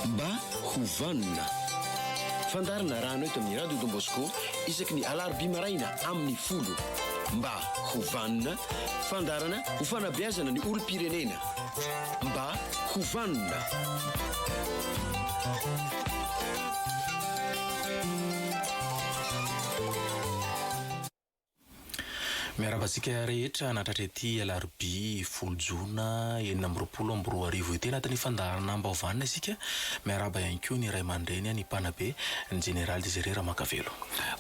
Mba ho vanona. Fandaharana rano eto amin'ny Radio Don Bosco isaky ny alarobia maraina amin'ny folo. Mba ho vanona. Fandaharana ho fanabeazana ny olom-pirenena. Mba ho vanona. Miarahaba antsika rehetra nahatratra ity alarobia folo jona enina amby roapolo amby roa arivo ity. Anatin'ny fandaharanam-baovan isika. Miarahaba ihany koa ny ray aman-dreny, ny mpanabe, ny jeneraly Désiré Ramakavelo.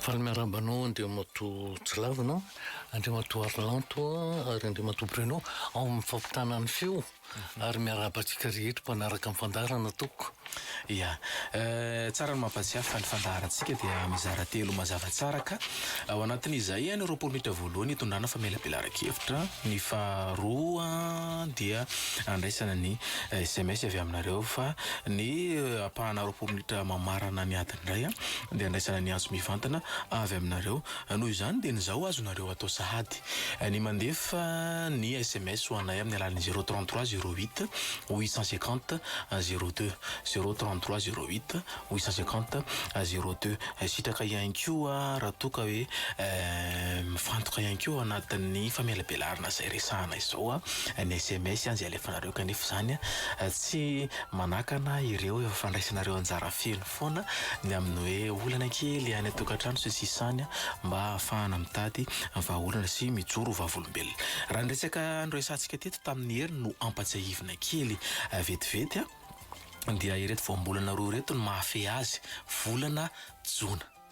Fa ny miarahaba anao Andriamatoa Tsilavina, Andriamatoa Arlanto ary Andriamatoa Bruno ao amin'ny fampitana ny feo. ary miarahaba antsika rehetra mpanaraka ny fandaharana tompoko. Ia, tsara ny mampatsiahy fa ny fandaharantsika dia mizara telo mazava tsara ka. Ao anatin'izay ihany ny roapolo minitra voalohany hitondrana famelabelaran-kevitra, ny faharoa dia handraisana ny sms avy aminareo fa ny ampahana roapolo minitra mamarana ny ady indray dia handraisana ny antso mivantana avy aminareo. Noho izany dia ny zao azonareo atao sahady ny mandefa ny sms ho anay amin'ny alalan'ny zero trente trois zero huit huit cent cinquante zero deux, zero trente trois zero huit huit cent cinquante zero deux. Sitraka ihany koa raha toa ka hoe mifantoka ihany koa ao anatin'ny famelabelarana izay resahana izao ny sms izay alefanareo kanefa izany tsy manakana ireo efa fandraisanareo anjara feno. manampy foana ny amin'ny hoe olana kely any an-tokantrano sy sisa any mba hahafahana mitady vahaolana sy mijoro ho vavolombelona. Raha ny resaka noresahantsika teto tamin'ny hery no ampatsiahivina kely vetivety dia ireto voambolana roa ireto no mahafehy azy, volana jona.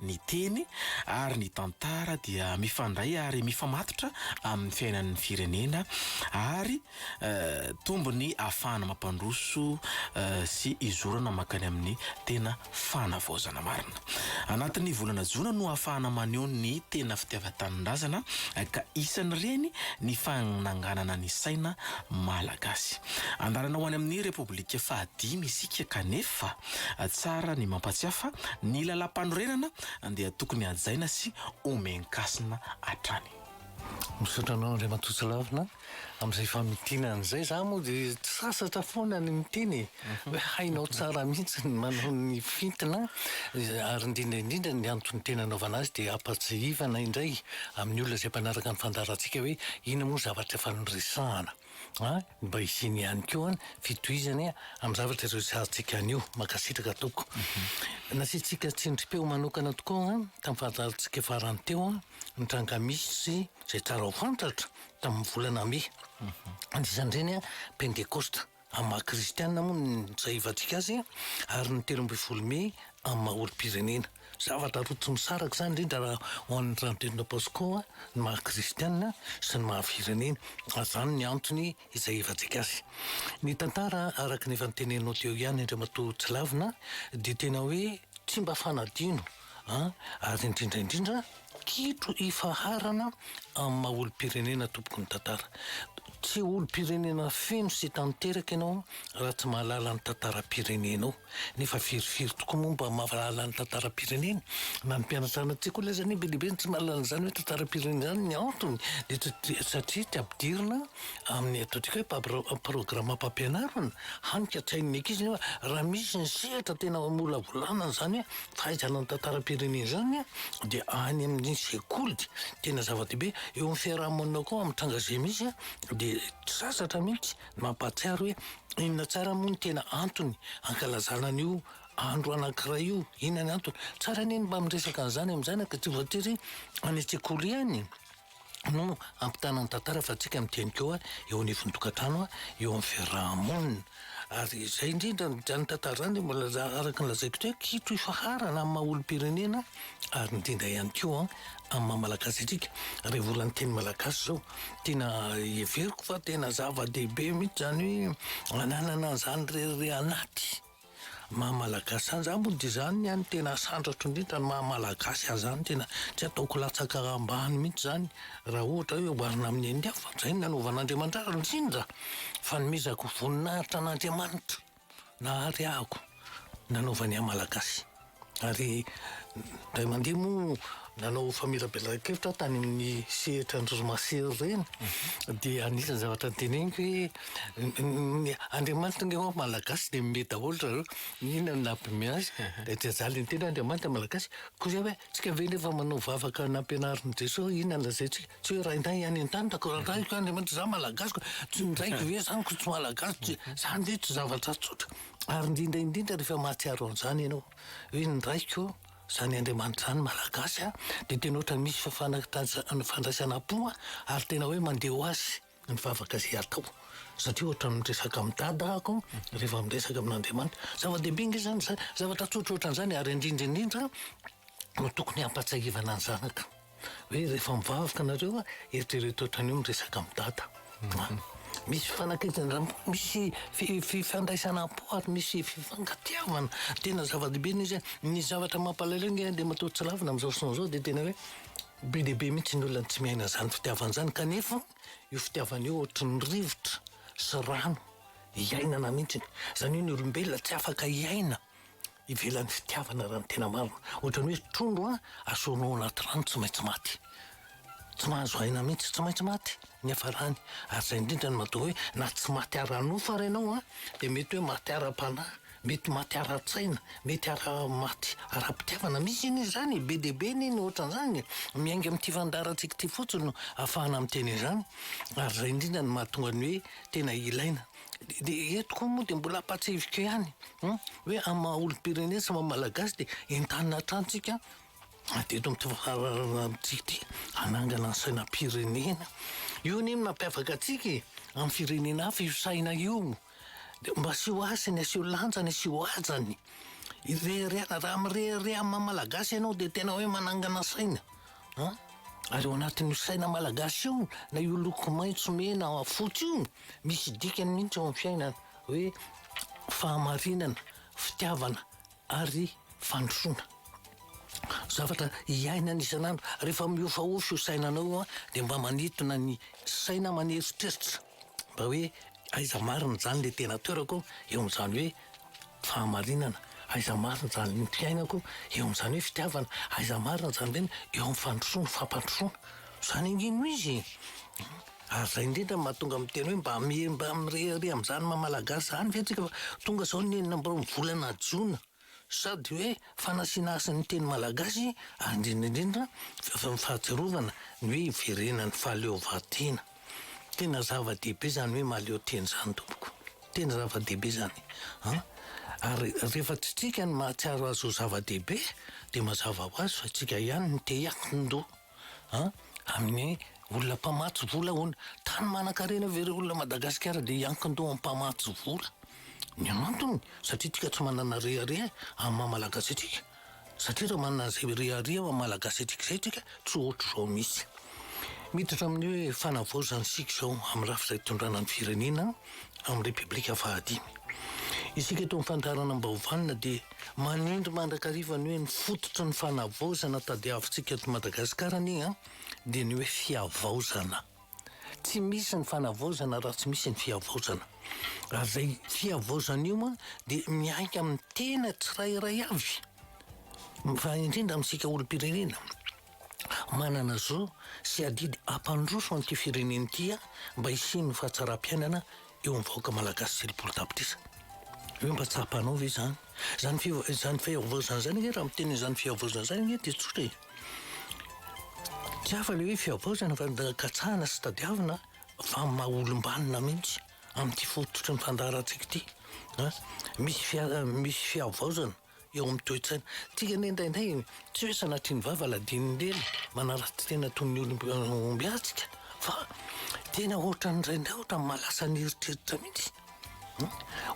Ny teny ary ny tantara dia mifandray ary mifamatotra amin'ny fiainan'ny firenena ary tombo ny afahana mampandroso sy izorana mankany amin'ny tena fanavaozana marina. Anatin'ny volana jona no afahana maneho ny tena fitiavan-tanindrazana ka isan'ireny ny fananganana ny saina malagasy. Andarana ho any amin'ny Repoblika fahadimy isika kanefa, Tsara ny mampatsiahy fa ny lalàmpanorenana dia tokony hajaina sy homen-kasina hatrany. Misaotra anao Andriamatoa Tsilavina amin'izay famintinana izay. Za moa dia sasatra foana ny miteny e! Hoe hainao tsara mihitsy ny manao ny fintina ary indrindra indrindra ny antony tena anaovana azy dia hampatsiahivana indray amin'ny olona izay mpanaraka ny fandaharantsika hoe inona moa ny zavatra efa noresahana. A, mba hisiany ihany koa ny fitohizany amin'ny zavatra resahantsika anio. Mankasitraka tompoko. Nasiantsika tsindrim-peo manokana tokoa tamin'ny fahatarantsika farany teo ny tranga misy izay tsara ho fantatra tamin'ny volana mey. Anisan'ireny Pentekosta amin'ny maha kristiana moa ny nisahivantsika azy ary ny telo ambin'ny folo mey amin'ny maha olom-pirenena. Zavatra roa tsy misaraka izany indrindra raha ho an'ny Trantena Pasco ny maha kristiana sy ny maha firenena. Azany ny antony izay hivatsika azy. Ny tantara araka ny efa notenenao teo ihany Andriamatoa Tsilavina dia tena hoe tsy mba fanadino an ary indrindra indrindra Kitro hifaharana amin'ny maha olom-pirenena tompoky ny tantara. Tsy olom-pirenena feno sy tanteraka ianao raha tsy mahalala ny tantaram-pirenenao. Nefa firy firy tokoa moa mba mahalala ny tantaram-pireneny? Na ny mpianatra any an-tsekoly aza anie be dia be no tsy mahalala an'izany hoe tantaram-pirenena izany. Ny antony dia satria tsy ampidirina amin'ny ataontsika hoe pabra- programam-pampianarana. Hany ka tsy hain'ny ankizy nefa raha misy ny sehatra tena hamolavolana an'izany hoe Fa izany tantaram-pirenena izany dia any amin'ny sekoly tena zava-dehibe. Eo amin'ny fiaraha-monina koa amin'ny tranga izay misy dia tsy sasatra mihitsy ny mampahatsiaro hoe inona tsara moa ny tena antony hankalazana an'io andro anankiray io, inona ny antony. Tsara anie ny mba miresaka an'izany amin'ny zanaka tsy voatery any an-tsekoly ihany. no ampitana ny tantara fa tsika miteny koa eo anivon'ny tokantrano eo amin'ny fiaraha-monina ary izay indrindra izany tantara izany dia mbola araka ny lazaiko teo kitro ifaharana amin'ny maha olom-pirenena ary indrindra ihany koa amin'ny maha malagasy antsika rehefa olan'ny teny malagasy izao tena heveriko fa tena zava-dehibe mihitsy izany hoe ananana izany rerire anaty Maha malagasy ahy zany moa dia izany ny ahy no tena santratro indrindra ny maha malagasy ahy zany tena tsy ataoko latsaka ambany mihitsy zany raha ohatra hoe oharina amin'ny an'ny hafa fa izay no nanovan'Andriamanitra ahy indrindra fanomezako voninahitra an'Andriamanitra nahareahako nanaovany ahy malagasy. Ary indray mandeha moa nanao famelabelaran-kevitra aho tany amin'ny sehatra androzimasery ireny dia anisan'ny zavatra noteneniko hoe ny Andriamanitra ny ao Malagasy dia mihomehy daholo ry zareo inona no nampihomehy azy dia tsy ajaly ny teny Andriamanitra ny Malagasy koa izay hoe tsika ve nefa manao vavaka nampianarin'i Jesoa inona no lazaintsika tsy hoe Rainay any an-tany da koa Rainay koa Andriamanitra izaho Malagasy koa tsinjaiko ve izany koa tsy Malagasy izany ve tsy zavatra tsotra Ary indrindra indrindra rehefa mahatsiaro an'izany ianao hoe ny raiko izany Andriamanitra izany Malagasy a, dia tena ohatra misy fifanaritra fandraisana am-po a, ary tena hoe mandeha ho azy ny vavaka izay atao satria ohatra ny miresaka amin'i Dada aho rehefa miresaka amin'Andriamanitra. Zava-dehibe ange izany izany zavatra tsotra ohatran'izany ary indrindra indrindra no tokony hampahatsiahivana ny zanaka. Hoe rehefa mivavaka nareo eritrereto ohatran'io miresaka am dada a! Misy fifanakaiza misy fifandraisana am po ary misy fifankatiavana tena zava-dehibe ny izy hoe ny zavatra mampalahelo nge de matoa tsy lavina amzao fotoana zao de tena hoe be dia be mihitsy ny olona tsy miaina zany fitiavana zany kanefa io fitiavana io ohatran'ny rivotra sy rano iainana mihitsy zany hoe ny olombelona tsy afaka hiaina ivelan'ny fitiavana raha ny tena marina. Ohatran'ny hoe trondro an, asorina ao anaty rano tsy maintsy maty. Tsy mahazo aina mihitsy, tsy maintsy maty ny hafarany. Ary izay indrindra no mahatonga hoe na tsy maty ara-nofo ary ianao an, dia mety hoe maty ara-panahy, mety maty ara-tsaina, mety ara, maty ara-pitiavana. Misy anie izany e, be dia be anie ny ohatran'izany e. Miainga amin'ity fandaharantsika ity fotsiny no ahafahana miteny an'izany. Ary izay indrindra no mahatonga ny hoe tena ilaina. Dia eto koa moa dia mbola ampahatsiahiviko ihany hoe amin'ny maha olom-pirenena sy maha malagasy dia entanina hatrany tsika dia eto amin'ity fahalalana amintsika ity hanangana ny sainam-pirenena. Io anie no mampiavaka antsika e, amin'ny firenena hafa io saina io. Dia mba asio hasiny, asio lanjany, asio hajany. Irehareha, raha mirehareha amin'ny maha malagasy ianao dia tena hoe manangana saina. An! Ary ao anatin'io saina malagasy io, na io loko maitso, mena, fotsy io, misy dikany mihitsy eo amin'ny fiainana, hoe fahamarinana, fitiavana ary fandrosoana. Zavatra iainana isan'andro. Rehefa mihofahofa io sainanao io dia mba manintona ny saina, maneritreritra. Mba hoe aiza marina izany ilay tena toerako eo amin'izany hoe fahamarinana, aiza marina izany ny fiainako eo amin'izany hoe fitiavana, aiza marina izany indray eo amin'ny fandrosoana, fampandrosoana. Izany ange no izy e! Ary izay indrindra no mahatonga ahy miteny hoe mba mba mirehareha amin'izany maha Malagasy izany ve antsika fa tonga izao ny enina amby roan'ny volana jona. Sady hoe fanasina hasy ny teny malagasy ary indrindra indrindra avy amin'ny fahatsiarovana ny hoe hiverenan'ny fahaleovantena. Tena zava-dehibe izany hoe mahaleo tena izany tompoko. Tena zava-dehibe izany an! Ary rehefa tsy tsika no mahatsiaro azy ho zava-dehibe dia mazava ho azy fa tsika ihany no te hiankin-doha. an! amin'ny olona mpamatsy vola ahoana? Tany manankarena ve ireo olona Madagasikara dia hiankin-doha amin'ny mpamatsy vola? Ny antony satria antsika tsy manana rehareha amin'ny maha Malagasy antsika, satria raha manana izay rehareha maha Malagasy antsika izay tsika tsy ohatr'izao mihitsy. Miditra amin'ny hoe fanavaozana isika izao amin'ny rafitra itondrana ny firenena. amin'ny Repoblika fahadimy. Isika eto amin'ny Fandaharana Ambaovanona dia manindry mandrakariva ny hoe ny fototry ny fanavaozana tadiavintsika eto Madagasikara anie an, dia ny hoe fihavaozana. Tsy misy ny fanavaozana raha tsy misy ny fihavaozana. Ary izay fihavaozana io an, dia miainga amin'ny tena tsirairay avy, fa indrindra amintsika olom-pirenena. manana zo sy adidy hampandroso an'ity firenena ity mba hisian'ny fahatsaram-piainana eo amin'ny vahoaka malagasy telopolo tapitrisa. Hoe mba tsapanao ve izany? Izany fiv- izany fihavaozana izany ange raha miteny izany fihavaozana izany ange dia tsotra e. Tsy hafa ilay hoe fihavaozana fa da katsahana sy tadiavina fa maha olom-banona mihitsy amin'ity fototry ny fandaharantsika ity. Misy fia- misy fihavaozana eo amin'ny toe-tsaina. Tika anie indraindray tsy hoe sanatria ny vava ladinin'ny lely manaratsy tena toy ny olom-be antsika fa tena ohatran'ny indraindray ohatran'ny mahalasa ny eritreritra mihitsy.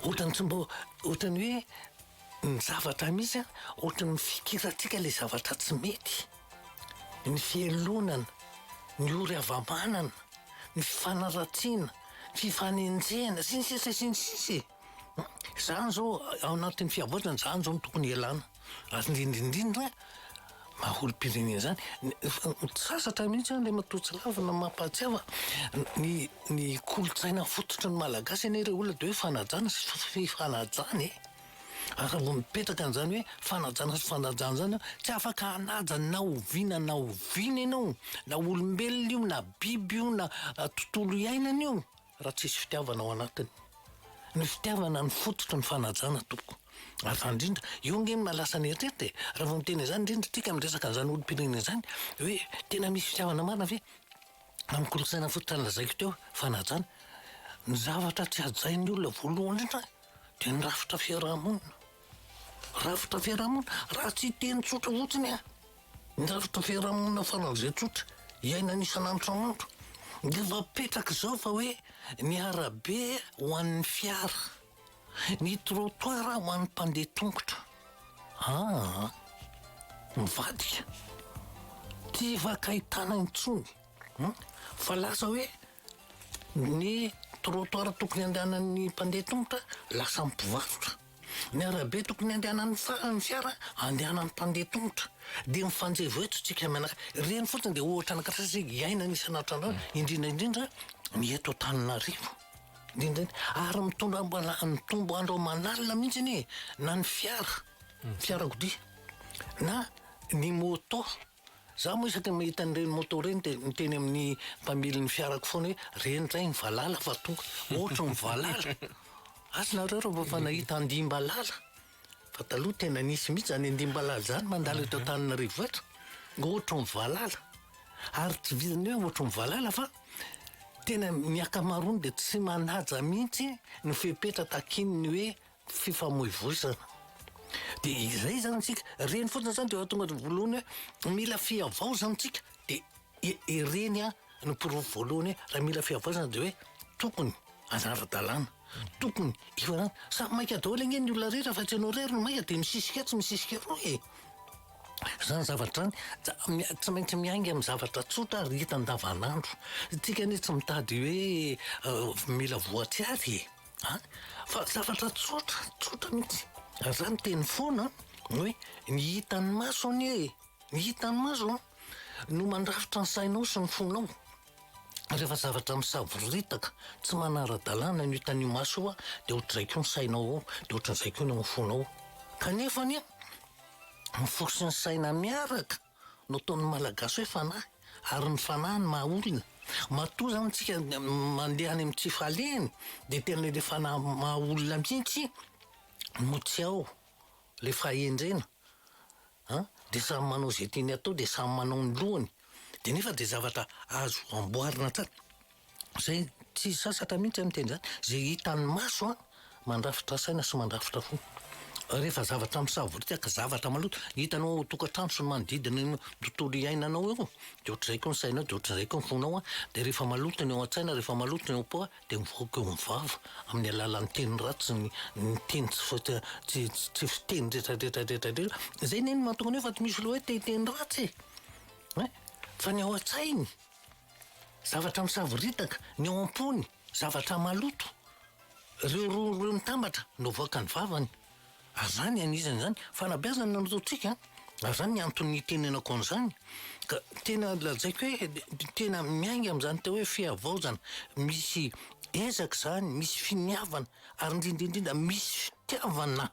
Ohatran'ny tsy mba ohatran'ny hoe ny zavatra misy ohatran'ny mifikirantsika ilay zavatra tsy mety. Ny fialonana, ny ory hava-manana, ny fifanaratsiana, fifanenjehana sy ny sisa sy ny sisa e! Izany izao ao anatin'ny fiavoazana izany izao no tokony hialana. Ary indrindra indrindra maha olom-pirenena izany. Sasatra mihitsy an ilay matoa tsy lavina mampahatsiahy fa ny ny kolontsaina fototry ny Malagasy anie ilay olona dia hoe fanajana sy fifanajana e! ary raha vao mipetraka an'izany hoe fanajana sy fifanajana izany an, tsy afaka hanaja na oviana na oviana ianao, na olombelona io na biby io na tontolo iainana io. Raha tsisy fitiavana ao anatiny. Ny fitiavana no fototry ny fanajana tompoko. Ary zany indrindra, io ange no lasa ny eritreritra e! Raha vao miteny an'izany indrindra isika miresaka an'izany olom-pirenena izany, hoe tena misy fitiavana marina ve? Amin'ny kolontsaina fototra nolazaiko teo, fanajana. Ny zavatra tsy hajain'ny olona voalohany indrindra dia ny rafitra fiaraha-monina. Rafitra fiarahamonina, raha tsy hiteny tsotra fotsiny aho, ny rafitra fiarahamonina faran'izay tsotra iainana isan'andro isan'andro dia efa apetraka izao fa hoe ny arabe ho an'ny fiara, ny trottoir ho an'ny mpandeha tongotra. Aa! Mivadika. Tsy hifankahitana intsony. Fa lasa hoe ny trottoir tokony handehanan'ny mpandeha tongotra lasan'ny mpivarotra. Ny arabe tokony andehanan'ny farany fiara andehanan'ny mpandeha tongotra dia mifanjevo eto tsika mianaka ireny fotsiny dia ohatra anakirasy sy iainana isan'atrandro indrindra indrindra ny eto Antananarivo indrindra ary mitondra mbala mitombo andro aman'alina mihitsy anie na ny fiara fiarakodia na ny moto Za moa isaky ny mahita an'ireny moto ireny dia miteny amin'ny mpamily ny fiarako foana hoe reny indray ny valala fa tonga, ohatry ny valala! Asa nareo raha vao efa nahita andimbalala? Fa taloha tena nisy mihitsy zany andimbalala zany mandalo eto Antananarivo eto, ohatry ny valala! Ary tsy vitan'ny hoe ohatry ny valala fa tena ny akamaroany dia tsy manaja mihitsy ny fepetra takian'ny hoe fifamoivoizana dia izay zany tsika reny fotsiny zany dia tonga de voalohany hoe mila fihavaozana tsika de ireny a no porofo voalohany hoe raha mila fihavaozana de hoe tokony anara-dalàna tokony hifarana samy maika daholo ange ny olona rehetra fa tsy ianao irery no maika de misisika atsy misisika eroa e zany zavatra zany ja- tsy maintsy miainga amin'ny zavatra tsotra ary hita andavanandro tsika anie tsy mitady hoe mila voatsiary e A, fa zavatra tsotra, tsotra mihitsy. Ary za miteny foana hoe ny hitan'ny maso anie e, ny hitan'ny maso no mandrafitra ny sainao sy ny fonao. Rehefa zavatra misavoritaka, tsy manara-dalàna no hitan'io maso io, dia ohatr'izay koa ny sainao ao, dia ohatr'izay koa ny ao amin'ny fonao. Kanefa anie, ny fo sy ny saina miaraka. no ataon'ny Malagasy hoe fanahy ary ny fanahy no maha olona. Matoa zany tsika mandeha any amin'ny tsy fahaliany dia tena ilay fanahy maha olona mihitsy no tsy ao, ilay fahendrena an! dia samy manao izay tiany atao dia samy manao ny lohany dia nefa dia zavatra azo amboarina tsara. Izay tsy sasatra mihitsy miteny izany, izay hitan'ny maso an, mandrafitra saina sy mandrafitra fo. Rehefa zavatra misavoritaka, zavatra maloto, hitanao ao an-tokantrano sy ny manodidina ny tontolo iainanao eo, dia ohatr'izay koa ny sainao, dia ohatr'izay koa ny fonao an, dia rehefa maloto ny ao an-tsaina, rehefa maloto ny ao am-po an, dia mivoaka eo amin'ny vava amin'ny alalan'ny teny ratsy, ny ny teny tsy fa tsy tsy tsy fiteny retradretra retradretra, izay anie no mahatonga an'io fa tsy misy loha hoe te hiteny ratsy e! ein! fa ny ao an-tsainy. Zavatra misavoritaka ny ao am-pony, zavatra maloto. Ireo rony ireo mitambatra no avoakan'ny vavany. Ary izany anizany izany fanabeazana no ataontsika, ary izany ny antony itenenako an'izany. Ka tena lazaiko hoe tena miainga amin'izany atao hoe fihavaozana, misy ezaka izany, misy finiavana ary indrindra indrindra misy fitiavana.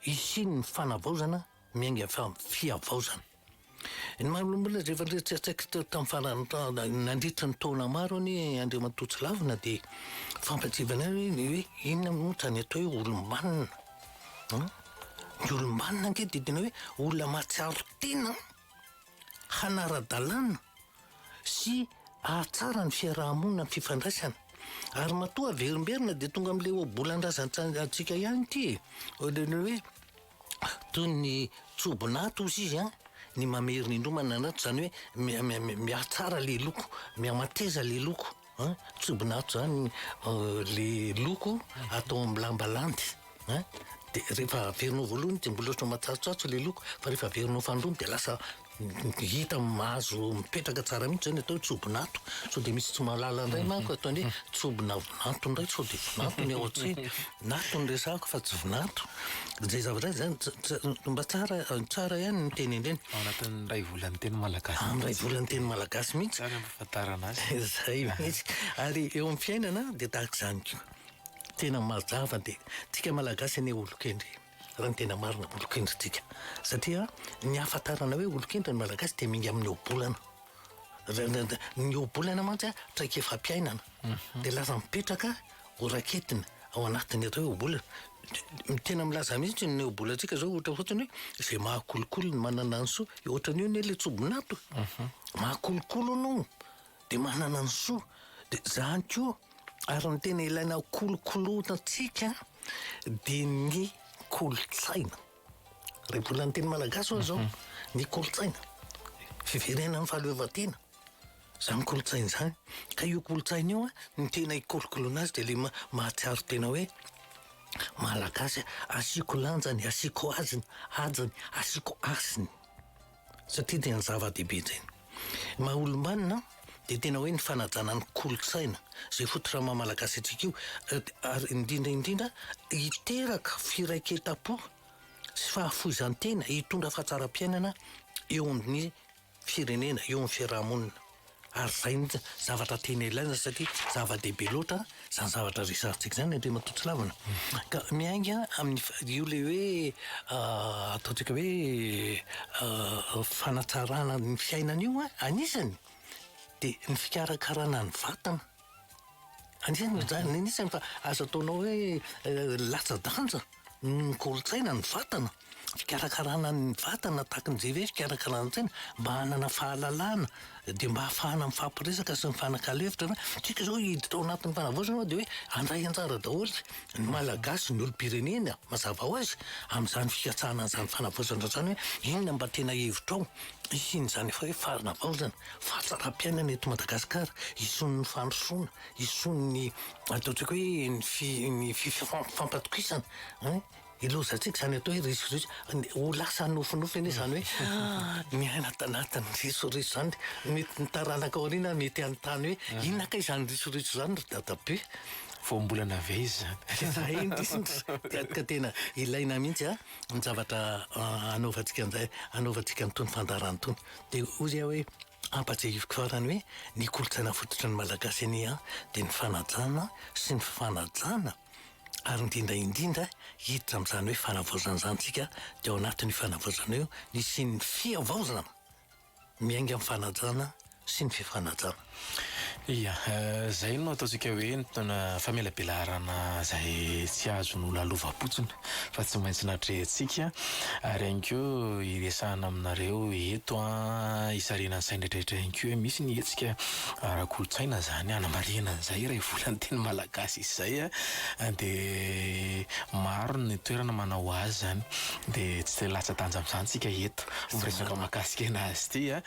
hisian'ny fanavaozana miainga avy amin'ny fihavaozana. Ny maha olombelona izay efa niresadresaka teo tamin'ny farany ta- nandritra ny taona maro anie Andriamatoa Tsilavina dia fampatsiavanay hoe ny hoe inona moa izany atao hoe olom-banona. An? Ny olom-banona ange dia tena hoe olona mahatsiaro tena hanara-dalàna sy hahatsara ny fiaraha-monina amin'ny fifandraisana. Ary matoa averimberina dia tonga amin'ilay ohabolan-drazantsika ihany ity e. Ohatran'ny hoe toy ny tsobin'aty hozy izy an, ny mamerina indroa manana aty, izany hoe mihatsara ilay loko, mihamateza ilay loko. An, tsy bonatso zany le loko atao amin'ny lamba landy an, de rehefa averinao voalohany de mbola ohatran'ny matsatsotsatso le loko fa rehefa averinao fahandroany de lasa hita mahazo mipetraka tsara mihitsy zay ny atao hoe tsobonato, sao dia misy tsy mahalala indray manko ataony hoe tsobonavonato indray sao dia vonato ny ao an-tsena, nato no resahako fa tsy vonato, zay zavatra zay zany tsa- tsa- mba tsara tsara ihany ny miteny an'ireny. Ao anatin'ny iray volan'ny teny malagasy. Amin'ny iray volan'ny teny malagasy mihitsy. ahafantarana azy. Izay mihitsy. Ary eo amin'ny fiainana dia tahaka izany koa. Tena mazava dia tsika Malagasy anie olon-kendry, raha ny tena marina olon-kendry tsika. Satria ny ahafantarana hoe olon-kendry ny Malagasy dia miainga amin'ny ohabolana. Ny ohabolana mantsy traikefam-piainana. Dia lasa mipetraka. ho raketiny ao anatin'ireo ohabola. Tena milaza mihitsy ny ohabolantsika zao ohatra fotsiny hoe izay mahakolokolo ny manana ny soa. Ohatran'ny hoe ilay tsobin'ato. Mhm. Mahakolokolo anao dia manana ny soa. Dia zany koa ary ny tena ilaina kolokoloina antsika dia ny kolontsaina. Raha mbola ny teny malagasy hoy aho izao, ny kolontsaina, fiverenan'ny fahaleovantena, izany kolontsaina izany. Ka io kolontsaina io an, ny tena hikolokoloina azy dia ilay maha- mahatsiaro tena hoe malagasy aho. Asiako lanjany, asiako azony, hajany, asiako hasiny. satria dia ny zava-dehibe izay. Ny maha olom-banona dia tena hoe ny fanajana ny kolontsaina izay foto-drama malagasy antsika io ary indrindra indrindra hiteraka firaiketam-po sy fahafoizan-tena hitondra fahatsaram-piainana eo amin'ny firenena, eo amin'ny fiaraha-monina. Ary izay no zavatra tena ilaina satria zava-dehibe loatra izany zavatra resahantsika izany Andriamatoa Tsilavina. Ka miainga amin'ny fa- io ilay hoe ataontsika hoe fanatsarana ny fiainana io an, anisany dia ny fikarakarana ny vatana. Anisan'ny mijanona eny isan fa azo ataonao hoe latsa-danja noho ny kolontsaina ny vatana. Fikarakarana ny vatana tahaka an'izay ve fikarakarana ny saina mba hanana fahalalana dia mba hahafahana mifampiresaka sy mifanakalo hevitra ve? Tsika izao hiditra ao anatin'ny fanavaozana dia hoe handray anjara daholo ny Malagasy, ny olom-pirenena mazava ho azy amin'izany fikatsahana an'izany fanavaozana izany hoe inona mba tena hevitrao hisian'izany hoe fanavaozana. fahasaram-piainana eto Madagasikara, isoan'ny fandrosoana, isoan'ny atao antsika hoe ny fi- ny fi- fifampatokisana an, ilozantsika izany atao hoe risoriso, ho lasa nofinofy anie izany hoe miaina ato anatin'ny risoriso izany ny ny taranaka ao aoriana mety hanontany hoe inona kay izany risoriso izany ry dadabe? Voambolana avy aiza izany? Izay indrindra dia ka tena ilaina mihitsy an, ny zavatra anaovantsika an'izay, anaovantsika an'itony fandaharana itony. Dia hozy aho hoe, ampatsahiviko farany hoe ny kolontsaina fototry ny Malagasy anie an, dia ny fanajana sy ny fifanajana ary indrindra indrindra hiditra amin'izany hoe fanavaozana izany isika dia ao anatin'io fanavaozana io ny hisian'ny fihavaozana miainga amin'ny fanajana sy ny fifanajana. Ia, izay no ataontsika hoe famelabelarana izay tsy azon'ny lalovam-potsiny fa tsy maintsy natrehintsika. Ary ihany koa hiresahana aminareo eto an, hisarihana ny sain'ny rehetra ihany koa hoe misy ny hetsika ara-kolontsaina izany hanamarihana an'izay iray volan'ny teny malagasy izay an, dia maro ny toerana manao azy izany dia tsy latsa-danja amin'izany isika eto miresaka mahakasika an'azy ity an.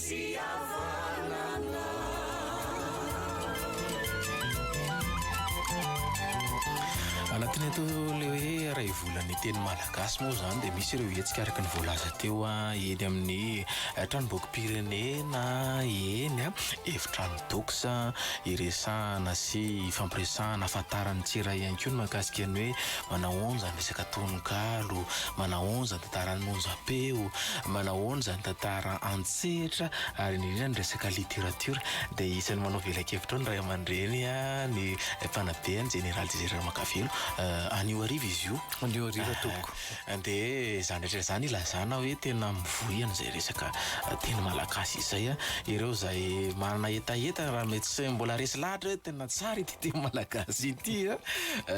Anatin'ny antoko le hoe Raivolan'ny teny malagasy moa izany dia misy ireo hetsika araka ny voalaza teo eny amin'ny tranombokim-pirenena eny, efitrano dox iresahana sy ifampiresahana ahafantaran'ny tsy iray ihany koa ny mahakasika ny hoe manahoana izany resaka tononkalo, manahoana izany. Tantaran'i Monja Peo. Manahoana izany tantara an-tsehatra ary indrindra ny resaka literatiora dia isan'ny manao velakevitra ao ny ray aman-dreny ny fanabehan'i Jeneraly Desire Ramakavelo. Anio hariva izy io. Anio hariva tompoko. Dia izany rehetra izany ilazana hoe tena mivoy an'izay resaka teny malagasy izay ireo izay manana hetaheta raha mety tsy mbola resy lahatra hoe tena tsara ity. Teny malagasy ity a,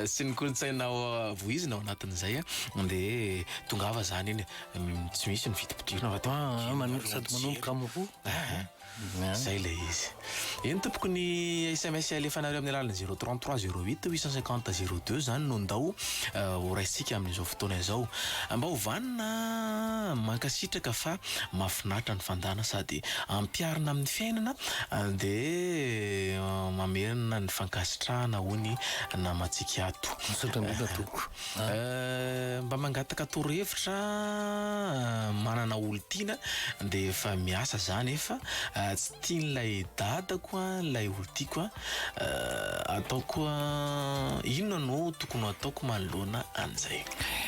sy ny kolontsaina vohizina ao anatin'izay a, de tongava zany iny e, tsy misy ny vidim-pidirana fa tena Ah, dimy manomboka sady arivo manomboka jiro. amin'ny roa. Ah, Ah. zay le izy. Eny tompoko ny sms alefanareo amin'ny alalan'ny zero trente trois zero huit huit cent cinquante zero deux zany no ndao ho raisintsika amin'izao fotoana izao. Mba ho vanona a, mankasitraka fa mahafinaritra ny fandàna sady ampiharina amin'ny fiainana Dia mamerina ny fankasitrahana hoy ny namantsika ato. Misaotra indrindra tompoko a. Mba mangataka toro hevitra an, manana olon-tiana dia efa miasa za nefa tsy tian'ilay dadako ilay olon-tiako an, ataoko inona no tokony ho ataoko manoloana an'izay?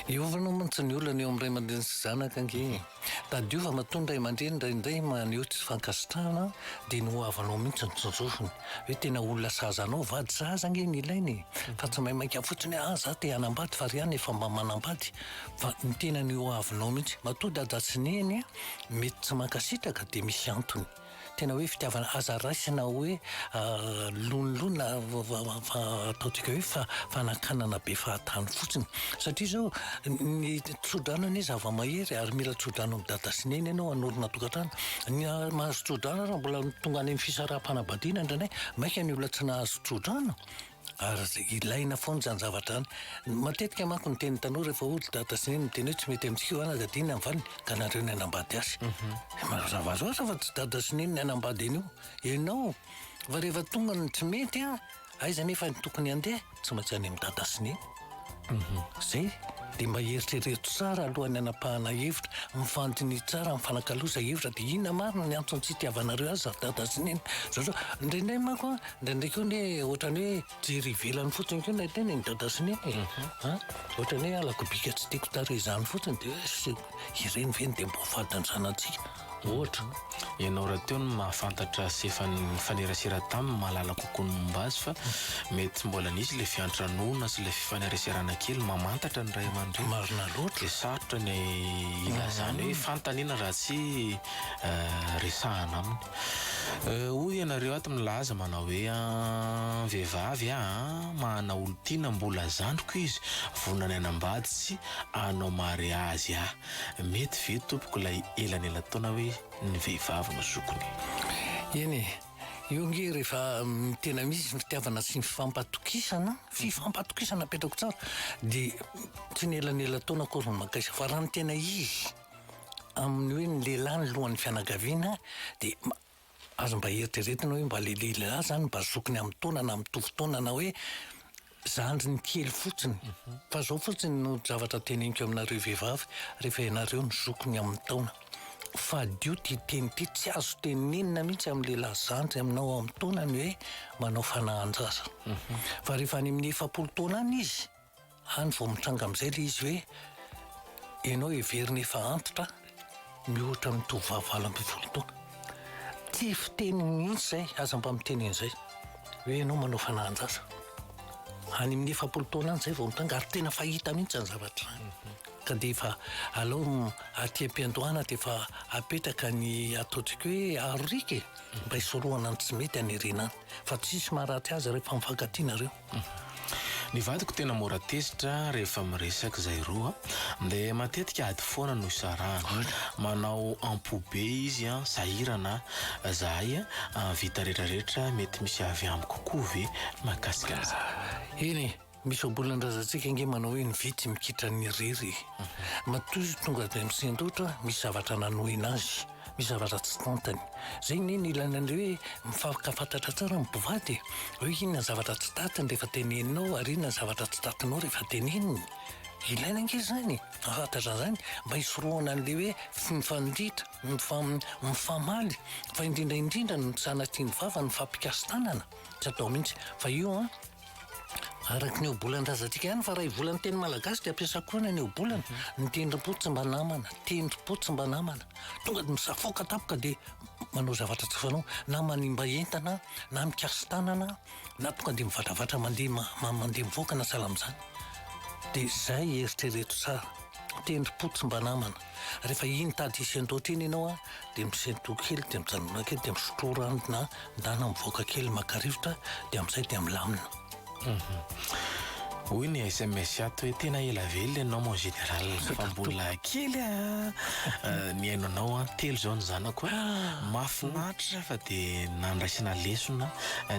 Hiovana mantsy ny olana eo amin'ny ray aman-dreny sy zanaka ange e! Tadiova matoa ny ray aman-dreny indraindray maneho tsy fankasitrahana dia ny ho havanao mihitsy no tsinjovina. Hoe tena olona sahaza anao, vady sahaza ange ny ilaina e! Fa tsy maimaika fotsiny hoe ah za te hanambady fa ry an efa mba manambady. Fa ny tena ny ho havinao mihitsy. Matoa dada sy neny mety tsy mankasitraka dia misy antony. Tena hoe fitiavana aza raisina hoe lonilony fa ataontsika hoe fanakanana be fahatany fotsiny satria izao ny tsodrano anie zava-mahery ary mila tsodrano amin'ny dada sy neny ianao hanorina tokantrano ny mahazo tsodrano ary mbola tonga any amin'ny fisaraham-panambadiana indray indray maika ny olona tsy nahazo tsodrano Ary ilaina foana izany zavatra izany. Matetika manko ny teny tanora efa ody dada sy neny miteny hoe tsy mety amintsika io anaka dia ny anvany ka nareo ny anambady azy. Mhm. Mazava loatra fa tsy dada sy neny ny anambady anio. Ianao fa rehefa tonga ny tsy mety aiza nefa tokony handeha tsy maintsy any amin'ny dada sy neny. Izay dia mba eritrereto tsara alohan'ny hanapahana hevitra. Mifandiniha tsara, mifanakaloza hevitra dia inona marina ny antony tsy itiavanareo azy ry dada sy neny. Zao zao, indraindray manko an, indraindray koa anie ohatran'ny hoe jery ivelany fotsiny koa ilay tena e, ny dada sy neny e. An, ohatran'ny hoe halako bika tsy tiako tarehy izany fotsiny dia hoe asio ireny ve no dia mba ho fadin'ny zanatsika. Ohatra, ianao rahateo no mahafantatra sy efa nifanerasera taminy, mahalala kokoa ny momba azy fa mety tsy mbola nisy ilay fiantranoana sy ilay fifaneraserana kely mamantatra ny ray aman-dreny. Marina loatra. Dia sarotra ny hilazana hoe fantany iny raha tsy resahana aminy. Hoy ianareo ato milaza manao hoe an, vehivavy a, mahana olon-tiana mbola zandriko izy, vonona ny hanambady sy hanao mariazy a. Mety ve tompoko ilay elanelan-taona hoe ny vehivavy no zokiny? Eny e! Io ange rehefa tena misy ny fitiavana sy ny fifampatokisana, fifampatokisana apetrako tsara, dia tsy ny elanelan-taona akory no maka izy fa raha ny tena izy amin'ny hoe ny lehilahy ny lohan'ny fianakaviana dia ary mba eritreretina hoe mba le lehilahy zany mba zokiny amin'ny taona na mitovy taona na hoe zandriny kely fotsiny mhm. fa zao fotsiny no zavatra teneniko aminareo vehivavy rehefa ianareo ny zokiny amin'ny taona fadio ty teny ty tsy azo tenenina mihitsy amin'ny lehilahy zandry aminao amin'ny taonany hoe manao fanahan-jaza mhm. fa rehefa any amin'ny efapolo taona any izy Any vao mitranga amin'izay ilay izy hoe ianao heverina efa antitra mihoatra ny tovovavy valo ambin'ny folo taona. Tsy fiteny mihitsy izay, aza mba miteny an'izay hoe ianao manao fanahan-jaza. Any amin'ny efapolo taona any izay vao mitranga ary tena fahita mihitsy izany zavatra izany. Ka dia efa aleo aty am-piandohana dia efa apetraka ny ataontsika hoe aroriaka e! Mba hisorohana ny tsy mety any aoriana any. Fa tsisy maharatsy azy rehefa mifankatia nareo. Ny vadiko tena mora tezitra rehefa miresaka izay roa dia matetika ady foana no isarahana. Manao am-po be izy an, sahirana an, zahay an, vita rehetra rehetra mety misy avy amiko koa ve mahakasika an'izany? Eny e, misy ambolan-drazantsika ange manao hoe ny vitsy mikitra ny irery e. Matoa izy tonga dia misendotra misy zavatra nanohina azy. Mizara raha tsy tantany. Zay anie ny ilaina ny hoe mifankafantatra tsara ny mpivady e. Hoe inona ny zavatra tsy tantiny rehefa teneninao ary inona ny zavatra tsy tantinao rehefa teneniny. Ilaina ange zany e. Fantatra an'zany mba hisorohana an'le hoe tsy mifandritra, mifamaly fa indrindra indrindra ny tsy sanatria ny vava no mifampikasi-tanana. Tsy atao mihitsy. Fa io an. Araka ny ohabolan-drazantsika ihany fa raivola ny teny malagasy dia ampiasa koa any aniobolana. Ny tendrom-po tsy mba namana, tendrom-po tsy mba namana. Tonga dia misafoaka tampoka dia manao zavatra tsy fanao. Na manimba entana, na mikasi-tanana, na tonga dia mivatravatra mandeha ma- ma- mandeha mivoaka na sahala amin'izany. Dia izay eritrereto tsara. Tendrom-po tsy mba namana. Rehefa iny tady hisentoatra iny ianao an, dia misentoa kely, dia mijanona kely, dia misotroa rano na ndana mivoaka kely maka rivotra, dia amin'izay dia milamina. Hoy ny sms ato hoe tena ela velona ianao mon général fa mbola kely an nihaino anao an, telo zao ny zanako an, mahafinaritra fa dia nandraisana lesona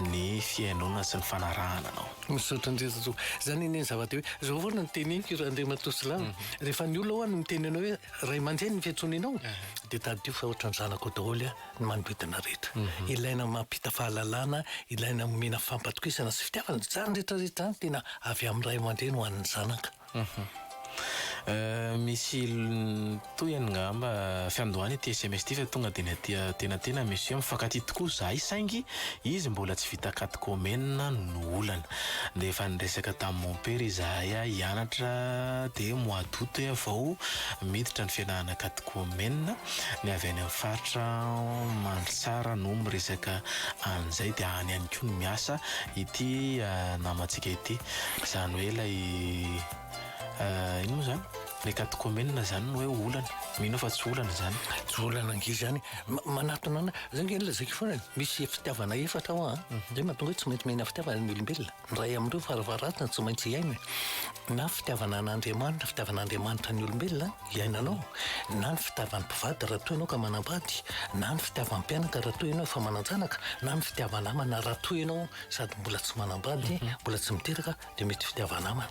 ny fihainoana sy ny fanarahana anao. Misaotra indrindra tompoko. Izany anie ny zava-dehibe. Izao foana no tenenik'Andriamatoa Silamo. rehefa ny olona hono miteny anao hoe ray aman-dreny ny fiantsoninao dia tadidio fa ohatran'ny zanako daholo ny manodidina rehetra. Mhm. Ilaina mampita fahalalana, ilaina omena fampatokisana sy fitiavana. Izany rehetrarehetra izany tena avy amin'ny ray aman-dreny ho an'ny zanaka. Mhm. Euh, misy tohiny ngamba fiandohana ity sms ity fa tonga dia ny aty atenatena monsieur mifankatia tokoa zahay saingy izy mbola tsy vita katy komena no olana. Dia efa niresaka tamin'i mompera izahay ahy hianatra dia mois d'août aho vao miditra ny fianarana katekomenina. Ny avy any amin'ny faritra Mandritsara no miresaka an'izay dia any ihany koa no miasa ity namantsika ity. Izany hoe ilay. inona moa izany ilay katekomenina izany no hoe olana. Mino aho fa tsy olana izany. Tsy olana ange izany. Manatona anay. Izay ange no lazaiko foana. Misy fitiavana efatra ao an. Mhm. Izay mahatonga hoe tsy maintsy miaina fitiavana ny olombelona. Ny iray amin'ireo varavaratony tsy maintsy hiaina. Na fitiavana an'Andriamanitra, fitiavan'Andriamanitra ny olombelona hiainanao. Na ny fitiavan'ny mpivady raha toa ianao ka manambady. Na ny fitiavan'ny mpianaka raha toa ianao efa manan-janaka. Na ny fitiavan-namana raha toa ianao sady mbola tsy manambady, mhm. mbola tsy miteraka. Dia mety fitiava-namana.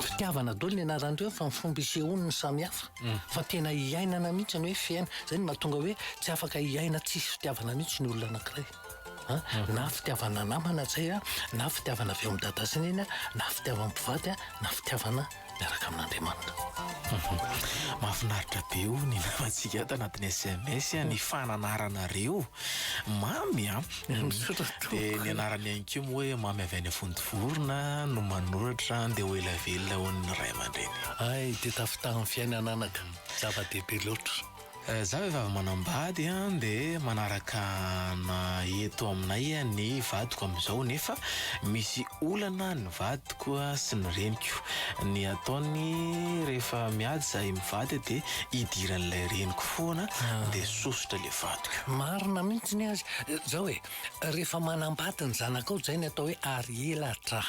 Fitiavana daholo ny anaran'ireo fa ny fomba isehoany no samihafa. Fa tena hiainana mihitsy ny hoe fiaina. Izay no mahatonga hoe tsy afaka hiaina tsisy fitiavana mihitsy ny olona anankiray. Na fitiavana namana zay, na fitiavana avy ao amin'ny dada sy neny, na fitiavan'ny mpivady, na fitiavana. miaraka amin'Andriamanitra. Mahafinaritra be oh ny namantsika ato anatin'ny sms a, ny fananaranareo Mamy a, dia ny anarany ihany koa moa hoe Mamy avy any Vontovorona no manoratra dia ho ela velona hono ny ray aman-dreny. Hay dia tafitahin'ny fiainana anaka, zava-dehibe loatra. Za vehivavy manambady an de manaraka ana eto aminay an ny vadiko amizao nefa misy olana ny vadiko sy ny reniko ny ataony rehefa miady zahay mivady de idiran'ilay reniko foana de sosotra le vadiko. Marina mihitsy ny azy zao e, rehefa manambady ny zanakao zay ny atao hoe ary elatra,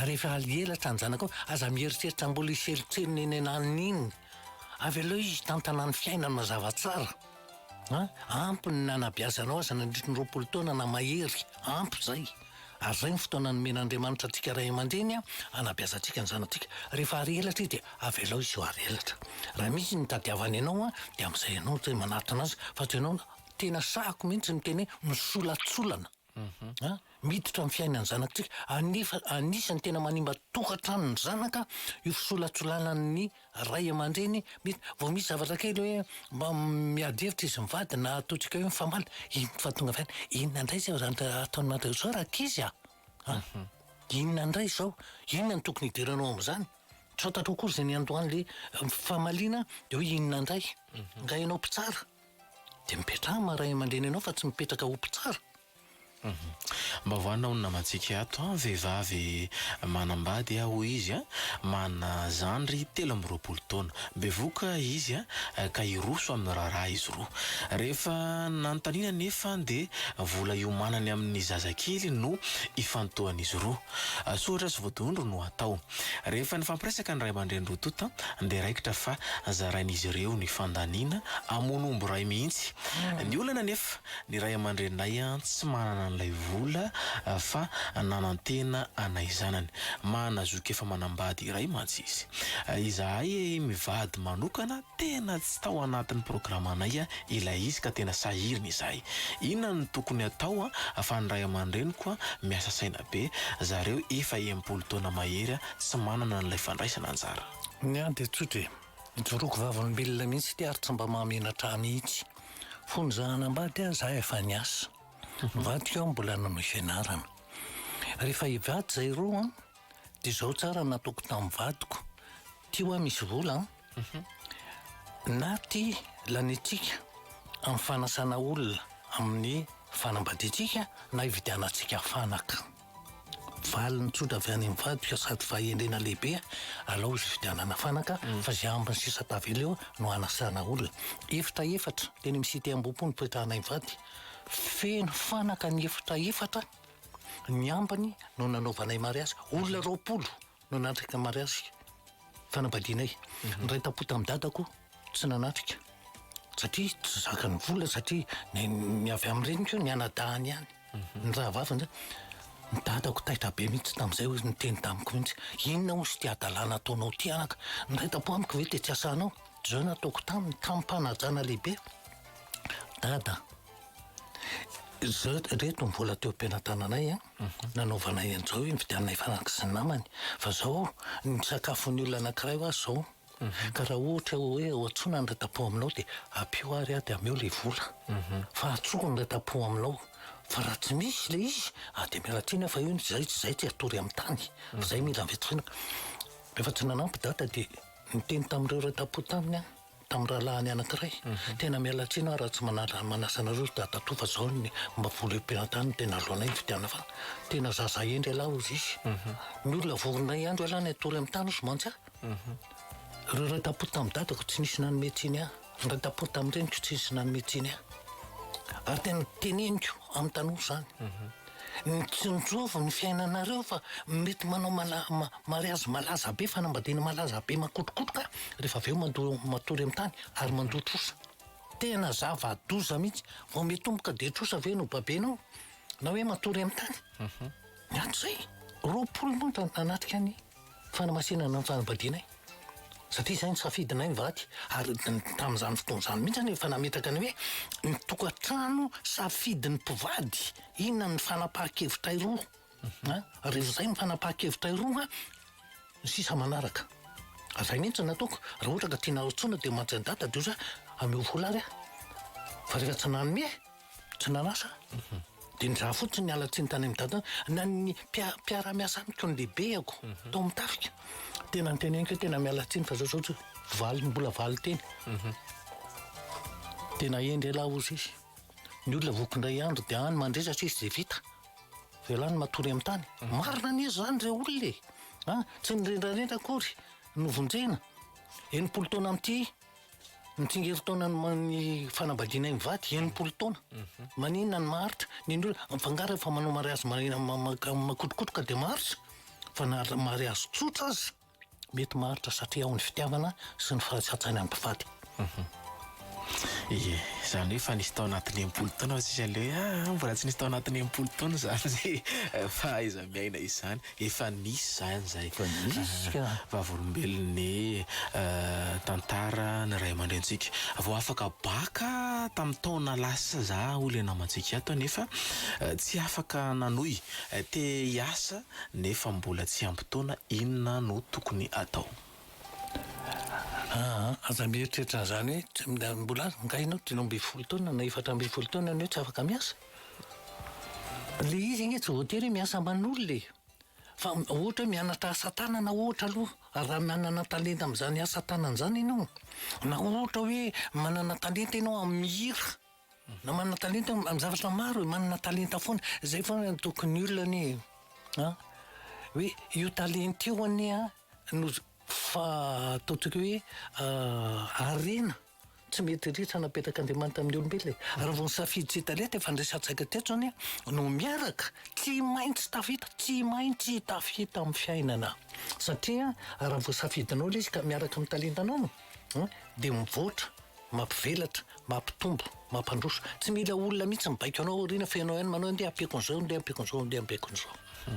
ary rehefa ary elatra ny zanakao aza mieritreritra mbola hiselotselona eny ananiny iny Avy aleo izy hitantana ny fiainany mazava tsara an! Ampy ny nanabeazanao azy nandritry ny roapolo taona na mahery, ampy izay. Ary izay ny fotoana nomen'Andriamanitra antsika ray aman-dreny hanabeazantsika ny zanatsika. Rehefa hary elatra izy dia avelao izy ho hary elatra. Raha misy ny hitadiavany anao dia amin'izay ianao izay manatona azy fa tsy ianao. Tena sahako mihitsy ny miteny hoe misolatsolana. An, miditra amin'ny fiainan'ny zanak'tsika. Anefa anisan'ny tena manimba tokantranon'ny zanaka io fisolatsolanan'ny ray aman-dreny. Mety vao misy zavatra kely hoe mba miady hevitra izy mivady na ataontsika hoe mifamaly, iny no fahatonga avy any, inona indray izay zany ataon'i madao zao rankizy a! an, inona indray izao, inona no tokony hidiranao amin'izany? tsy fantatrao akory izay niandohan'ilay fifamaliana dia hoe inona indray? nga ianao mpitsara. Dia mipetraha maha ray aman-dreny anao fa tsy mipetraka ho mpitsara. Mba voanao ny namantsika ato an, vehivavy manambady aho hoy izy an, manana zandry telo amby roapolo taona. Bevoka izy an, ka hiroso amin'ny raharaha izy roa. Rehefa nanontaniana anefa dia vola iomanany amin'ny zazakely no ifantohan'izy roa. Soratra sy vodondry no atao. Rehefa nifampiresaka ny ray aman-dreny roa tonta dia raikitra fa zarain'izy ireo ny fandaniana hamono omby iray mihitsy. Ny olana anefa, ny ray aman-dreninay tsy manana an'ilay vola fa nanantena anay zanany. Mahana zoky efa manambady iray mantsy izy. Izahay mivady manokana Tena tsy tao anatin'ny programanay ilay izy ka tena sahirana izahay. Inona no tokony atao fa ny ray aman-dreniko miasa saina be, zareo efa enimpolo taona mahery tsy manana an'ilay fandraisana anjara. Ny ahy dia tsotra e, ijoroako vavolombelona mihitsy ity ary tsy mba mahamenatra ahy mihitsy. Fony izaho hanambady aho, izaho efa niasa. Nivadika aho mbola nanohy fianarana. Rehefa hivady izahay roa dia izao tsara nataoko tamin'ny vadiko, Ty hoa misy vola an! Na ty laniantsika amin'ny fanasana olona amin'ny fanambadiantsika na ividianantsika fanaka. Valiny tsotra avy any amin'ny vadiko sady fahendrena lehibe, alao izy ividianana fanaka fa izay ambiny sisa tavela eo no anasana olona. Efitra efatra teny amin'ny cité Ambohipo nipetrahanay mivady. Feno fanaka ny efitra efatra, ny ambiny no nanaovanay mariazy. Olona roapolo! no nanatrika ny mariazy fanambadianay. Niray tampo tamin'i dadako tsy nanatrika satria tsy zakany vola satria ny ny avy amin'ny reniko ny anadahany ihany mhm. ny rahavavy zany ny dadako taitra be mihitsy tamin'izay hoe niteny tamiko mihitsy inona ozy ty adalàna ataonao ty anaka ny ray tampo amiko ve tetsy asanao zao nataoko taminy tamim-panajana lehibe dada zao reto ny vola teo am-pianatananay an nanaovana eny zao io nividianana hifanakatry ny namany fa zao ny sakafon'ny olona anakiray hoa zao ka raha ohatra hoe ho antsoina ny ratapo aminao dia ampio ary aho dia ameo le vola fa antsoiko ny ratapo aminao fa raha tsy misy le izy ah dia miala tsiny aho fa io ny zay tsy zay tsy atory amin'ny tany fa zay mila vitsivitsy rehefa tsy nanampy dada dia niteny tamin'ireo ratapo taminy aho tamin'ny rahalahiny anankiray, tena miala tsiny aho raha tsy manala manasa anareo ry dadatoa fa zao ny mba vola eo pelantany no tena aloanay ny fidianana fa tena zaza hendry elah hozy izy ny olona vorona hiandry elah ny hatory amin'ny tany hozy mantsy aho ireo iray tapory tamin'ny dadako tsy nisy nanome tsiny ahy ny iray tapory tamin'ny reniko tsy nisy nanome tsiny ahy ary tena teneniko amin'ny tanora izany Mitsinjovy ny fiainanareo fa mety manao mariazy malaza be, fanambadiana malaza be makotrokotroka rehefa avy eo mandoa matory amin'ny tany ary mandoa trosa. Tena zava-doza mihitsy. Vao mitomboka dia trosa ve no babenao na hoe matory amin'ny tany? Miato izay. Roapolo monja nanatrika ny. Fanamasinana ny fanambadianay, satria izay no safidinay mivady, ary tamin'izany fotoana izany mihitsy aho efa nametraka ny hoe ny tokantrano safidin'ny mpivady, inona no fanapahan-kevitray roa an, rehefa izay no fanapahan-kevitray roa an, ny sisa manaraka. Ary izay mihitsy no nataoko, raha ohatra ka tianareo tsoina dia mantsy an'i Dada dia ohatra hoe ameo vola ary aho, fa rehefa tsy nanome. Tsy nanasa dia nizaha fotsiny niala tsiny tany amin'ny dadany na ny mpiara-miasa amiko ny lehibeko mhm. tao amin'ny tafika tena niteneniko tena miala tsiny fa zao zao tsy valy mbola valy teny mhm. tena hendry elah ozy izy ny olona voky indray andro dia any mandresa sisy izay vita velany matory amin'ny tany mhm. marina anie zany re olona e ah, tsy nirendrarendra akory novonjena enimpolo taona amin'ity Ny tsingerin-taonan'ny ma- ny fanambadiana mivady, enimpolo taona. Maninona ny Martsa? Ny olona mifangaro rehefa manao mariazy ma- ma- ma- makotrokotroka dia Martsa. Fa na ra- mariazy tsotra aza, mety Martsa satria ao ny fitiavana sy ny fahatsatsana ny mpivady. Ie, izany hoe efa nisy tao anatin'ny enimpolo taona hoy sisa le hoe ah mbola tsy nisy tao anatin'ny enimpolo taona izany izay fahaiza-miaina izany. Efa nisy zany zay. Efa nisy ka. Vavolombelon'ny tantara ny ray aman-drentsika. Vao afaka bac tamin'ny taona lasa za hoy ilay namantsika ato nefa tsy afaka nanohy. Te hiasa nefa mbola tsy ampy taona, inona no tokony atao? Aa aza mieritreritra an'izany hoe mbola angaha ianao dimy ambin'ny folo taona na efatra ambin'ny folo taona ianao tsy afaka miasa? Ilay izy ange tsy voatery hoe miasa aman'olona e! Fa ohatra hoe mianatra asa tanana ohatra aloha, raha manana talenta amin'izany asa tanana izany ianao, na ohatra hoe manana talenta ianao amin'ny mihira, na manana talenta ianao amin'ny zavatra maro e, manana talenta foana. Izay foana no tokony olona anie e! an! Hoe io talenta io anie an, no fa ataontsika hoe harena. Tsy mety ritra napetrak'Andriamanitra amin'ny olombelona e! Raha vao nisafidy tsy hita lety, efa niresantsika teto izany a, no miaraka, tsy maintsy tafita, tsy maintsy tafita amin'ny fiainana. Satria raha vao safidinao ilay izy ka miaraka amin'ny talentanao no a, dia mivoatra, mampivelatra, mampitombo, mampandroso. Tsy mila olona mihitsy mibaiko anao aoriana fa ianao ihany manao hoe ndeha ampiako an'izao, ndeha ampiako an'izao, ndeha ampiako an'izao.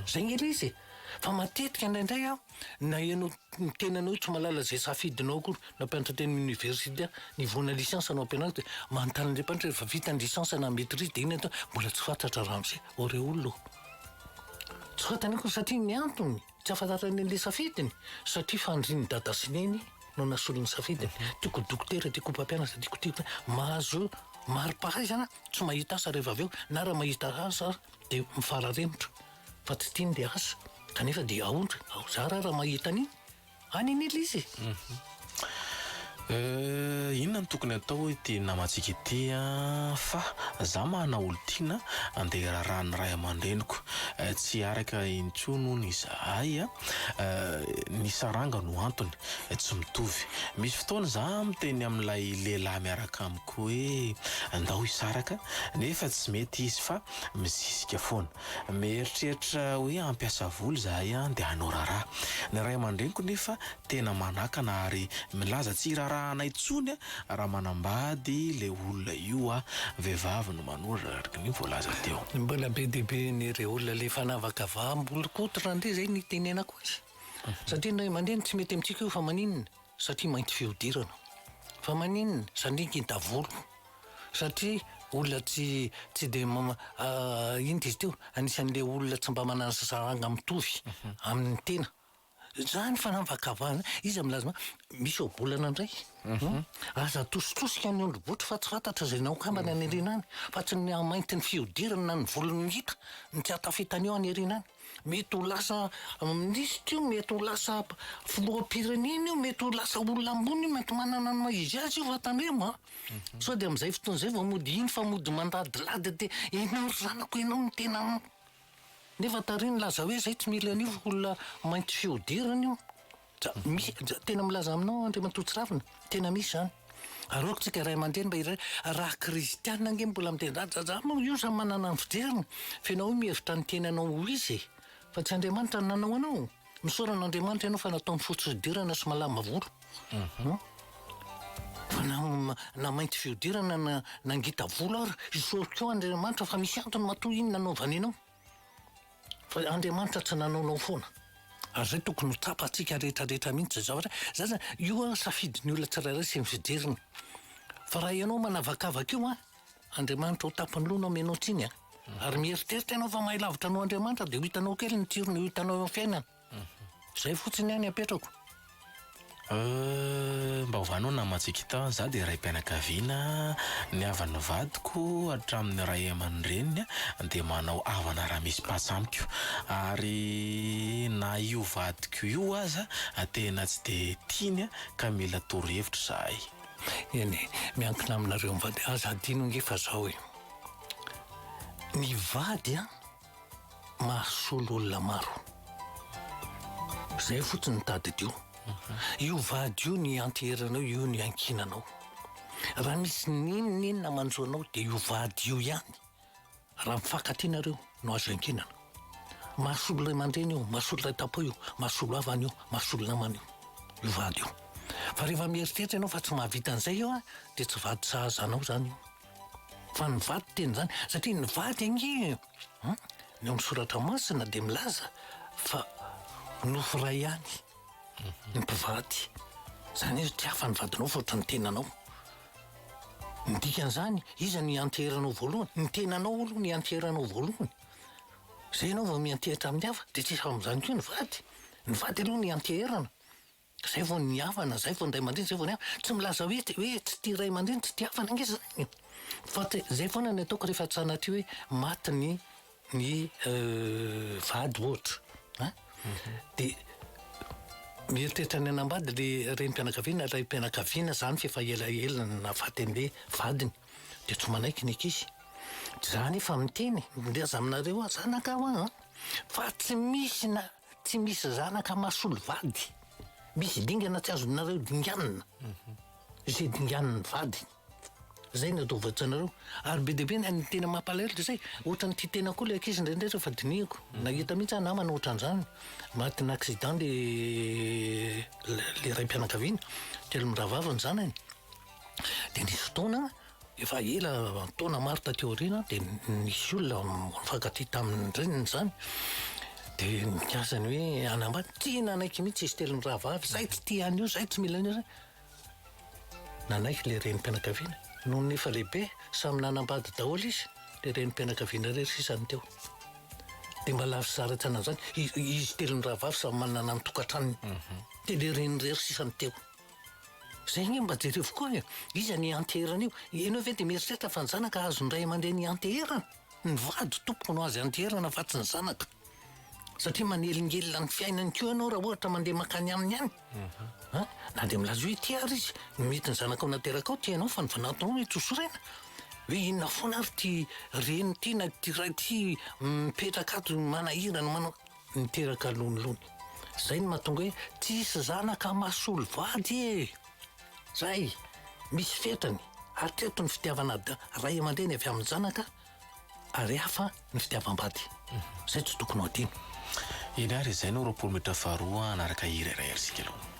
Izay ange ilay izy e! Fa matetika indraindray an, Na ianao ny tenanao io tsy mahalala izay safidinao akory, na mpianatra teny amin'ny oniversite, ny voana licence no ampianariko dia manontany an'ilay mpianatra rehefa vita ny licence na maitrise dia inona ny atao? Mbola tsy fantatra ramose. Aureole ô. Tsy fantany akory satria ny antony tsy ahafantarany an'ilay safidiny, satria fandrin'i dada sy neny no nasolo ny safidiny. Tiako ho dokotera, tiako ho mpampianatra, tiako tiako tiako. Mahazo mari-pahaizana tsy mahita asa rehefa avy eo, na raha mahita asa ary dia mifararemotra. fa tsy tiany dia asa kanefa dia aondry ao zara raha mahita ny any an'ila izy Euh, inona no tokony atao ity namantsika ity a fa za mahana olon-tiana andeha irarahan'ny ray aman-dreniko eh, tsy araka intsony hono izahay a Euh, ny saranga no antony eh, tsy mitovy misy fotoana za miteny amin'ilay lehilahy miaraka amiko hoe ndao hisaraka nefa tsy mety izy fa mizizika foana Mieritreritra hoe hampiasa vola izahay dia hanao raharaha. Ny ray aman-dreniko nefa tena manakana ary milaza tsy hiraharaha anay intsony raha manambady ilay olona io aho. Vehivavy no manoratra araka ny voalaza teo. Ny mbola be dia be an'ireo olona ilay fanavaka vaham-bolokoditra rahateo izay no itenenako azy. Satria ny ray aman-dreny tsy mety amintsika io fa maninona? Satria mainty fihodirana. Fa maninona? Satria ngita volo. satria olona tsy tsy dia inona izy teo anisan'ilay olona tsy mba manana zazaranga mitovy amin'ny tena izany fanavakavahana iza milaza ma misy ohabolana indray mhm. aza atositosika ny ondrobotry fa tsy fantatra izay naokambana any irina any fa tsy ny hamainty ny fiodirana na ny volony hita ny tsy atafitana eo any irina any Mety ho lasa minisitra io, mety ho lasa filoham-pirenena io, mety ho lasa olona ambony io, mety manana ny maha izy azy io fa tandremo a! Sao dia amin'izay fotoana izay vao mody hino fa mody mandadilady dia ianao ry zanako, ianao no tena an! Nefa tary nilaza hoe izay tsy mila an'io fa olona mainty fihodirana io. Dra, misy, dra, tena milaza aminao Andriamatoa Tsiravina, tena misy izany. Aroako tsika ray aman-dreny mba hiray, raha kristianina ange mbola miteny izany, dra, dra, moa io samy manana ny fijeriny, fa ianao io mihevitra ny tenanao ho izy e! Fa tsy Andriamanitra no nanao anao! Misaora an'Andriamanitra ianao fa nataony fotsy fihodirana sy malama volo. Hum. Fa na, na mainty fihodirana na, na ngita volo ary, isaoriko Andriamanitra fa misy antony matoa iny nanaovany anao. Fa Andriamanitra tsy nanaonao foana. Ary zay tokony ho tsapantsika rehetra rehetra mihintsy izao re. Zany zany, io an safidin'ny olona tsirairay sy ny fijeriny. Fa raha ianao manavakavaka io an, Andriamanitra ho tampin'ny loha no amenao tsiny an. Ary mieritreritra ianao fa mahay lavitra noho Andriamanitra dia ho hitanao kely ny tsirony ho hitanao eo amin'ny fiainana. Zay fotsiny ihany apetrako. Euh, mba ovanao nama Tsikita, za dia raim-pianakaviana, ny havan'ny vadiko hatramin'ny ray aman-dreniny dia manao havana raha misy patsa amiko, ary na io vadiko io aza tena tsy dia tiany ka mila torohevitra izahay. Eny e, miankina aminareo mivady, aza adino ange fa zao e, ny vady an, mahasolo olona maro. Zay fotsiny tadidio. Io vady io ny ianteheranao, io ny iankinanao. Raha misy n'inon'inona manjo anao dia io vady io ihany. Raha mifankatia nareo no azo iankinana. Mahasolo ray aman-dreny io, mahasolo ray tampo io, mahasolo havana io, mahasolo namana io. Io vady io. Fa rehefa mieritreritra ianao fa tsy mahavita an'izay io an, dia tsy vady sahaza anao zany io. Fa ny vady tena izany, satria ny vady ange an, ny ao amin'ny soratra masina dia milaza fa nofo iray ihany ny mpivady. Izany hoe tsy hafa ny vadinao fa ohatran'ny tenanao. Ny dikan'izany, iza no ianteherinao voalohany? Ny tenanao aloha no ianteherinao voalohany. Izay ianao vao miantehitra amin'ny hafa, dia tsy hafa amin'izany koa ny vady. Ny vady aloha no ianteherana. Ka zay vao ny havana, zay vao ny ray aman-dreny, zay vao ny havana. Tsy milaza hoe hoe tsy tia ray aman-dreny, tsy tia havana ange zany e! Fa te- zay foana ny ataoko rehefa sanatria hoe maty ny ny vady ohatra an! De mieritreritra ny hanambady le renim-pianakaviana, raim-pianakaviana zany f'efa ela ela no nahafaty an'le vadiny. De tsy manaiky ny ankizy. Za nefa miteny, mileza aminareo aho, zanaka ho aho an! Fa tsy misy na Tsy misy zanaka mahasolo vady. Misy dingana tsy azonareo dinganina. Izay dinganin'ny vadiny. Izay no atao voatsanareo. Ary be dia be ny tena mampalahelo dia izay, ohatran'ny tia tena koa ilay ankizy indraindray rehefa dinihiko. Nahita mihitsy aho namana ohatran'izany, matin'ny accident ilay ilay raim-pianakaviana, kely mirahavavy ny zanany. Dia nisy fotoana, Efa ela, taona maro taty aoriana, dia nisy olona nifankatia tamin'ny reniny izany, dia nikasa ny hoe hanambady. Tsy nanaiky mihitsy izy telo mirahavavy, izahay tsy tia an'io, izahay tsy mila an'io. Nanaiky ilay renim-pianakaviana. Nony efa lehibe, samy nanambady daholo izy, dia renim-pianakaviana irery sisa no teo. Dia mba lavo sy zara tsy anan'izany, izy telo mirahavavy samy manana ny tokantranony, dia ilay reniny irery sisa no teo. Zay nge mba jerevo koa e, iza ny ianteherana io? Ianao ve dia mieritreritra fa ny zanaka azon'ny ray aman-dreny ianteherana? Ny vady tompoko no azo ianteherana fa tsy ny zanaka. Satria manelingelina ny fiainany koa ianao raha ohatra mandeha mankany aminy any. An, na dia milaza hoe tia ary izy, ny mety ny zanakao naterakao tia anao fa ny fanatonao no itosorena. Hoe inona foana ary ity reny ity na ity ray ity mipetraka ato manahirana manao. Niteraka lonilony. Zay no mahatonga hoe tsisy zanaka mahasolo vady e! Zay! Misy fetrany. Hatreto ny fitiavana da ray aman-dreny avy amin'ny zanaka ary hafa ny fitiavam-bady. Zay tsy tokony ho adino. Eny ary izay no roapolo metra faharoa hanaraka hira iray ry sikalou.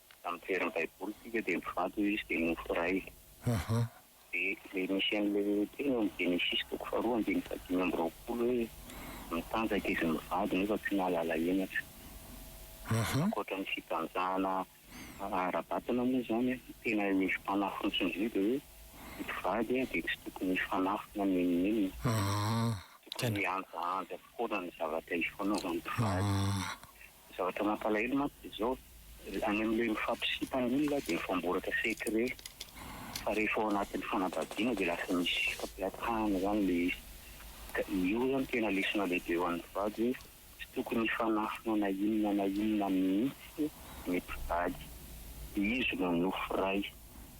Amin'ny fieran'ny baiboly isika dia mifantoka izy dia nofo iray. Ahaa. Dia ilay misy an'ilay teny ao amin'ny Genesisy toko faharoa andininy fahadimy amby roapolo hoe mitanjaka izy mivady nefa tsy nahalala henatra. Ahaa. Ankoatra ny fitanjahana ara-batana moa izany an, ny tena hevitry Panahy fotsiny indray dia hoe ny mpivady dia tsy tokony hifanafina na inona na inona. Ahaa. Tokony hihanjahanja foana ny zavatra hifanaovan'ny mpivady. Ahaa. Ny zavatra mampalahelo mantsy dia izao, any amin'ilay mifampisimpana iny lahy dia mifamboraka secret, fa rehefa ao anatin'ny fanambadiana dia lasa misy fampihatahana izany ilay izy. Ka io izany tena lesona lehibe ho an'ny vady hoe tsy tokony hifanafina na inona na inona mihitsy ny mpivady, izy no nofy ray.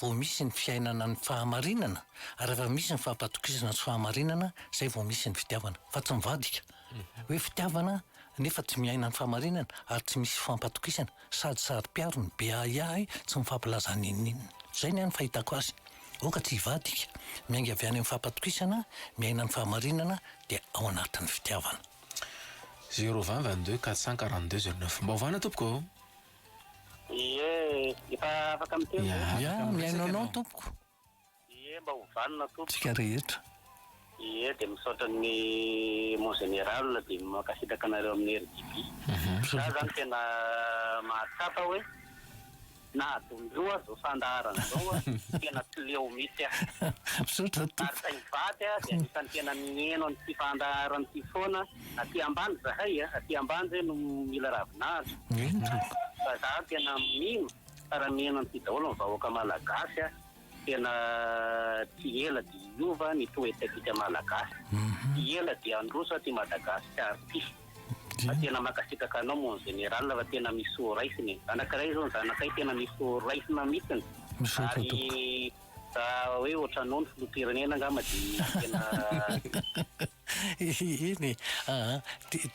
vao misy ny fiainana ny fahamarinana ary rehefa misy ny fampatokisana sy fahamarinana izay vao misy ny fitiavana fa tsy mivadika hoe fitiavana nefa tsy miaina ny fahamarinana ary tsy misy fampatokisana sady saro-piaro ny be ahiahy tsy mifampilaza n'inon'inona izay ny ahy ny fahitako azy aoka tsy hivadika miainga avy any amin'ny fampatokisana miaina ny fahamarinana dia ao anatin'ny fitiavana zéro vingt vingt deux quatre cent quarante deux zéro neuf mba ovana tompoko ô. Ie, efa afaka miteny ve? Ia, mihaino anao tompoko. Ie, mba ho vanona tompoko. Tsika rehetra. Ie, dia misaotra ny mon général dia mankasitraka anareo amin'ny RJB. Za zany tena mahatsapa hoe nahadondro aho zao fandaharana zao a, tena tsy leo mitsy ah. Misaotra tompoko. Ary saingy vaky ah, dia anisany tena miheno an'ity fandaharana ity foana Aty ambany zahay a, aty ambany zay no mila ravinala, fa za tena mino fa raha miheno an'ity daholo ny vahoaka malagasy a, tena tsy ela dia hiova ny toetetika malagasy, tsy ela dia handroso aty Madagasikara ity, fa tena mankasitraka anao mon général fa tena misy horaisina e, anankiray zao ny zanakay tena misy horaisina mitsiny, ary raha hoe otranao ny filoham-pirenena angamba dia tena. Eny e! aa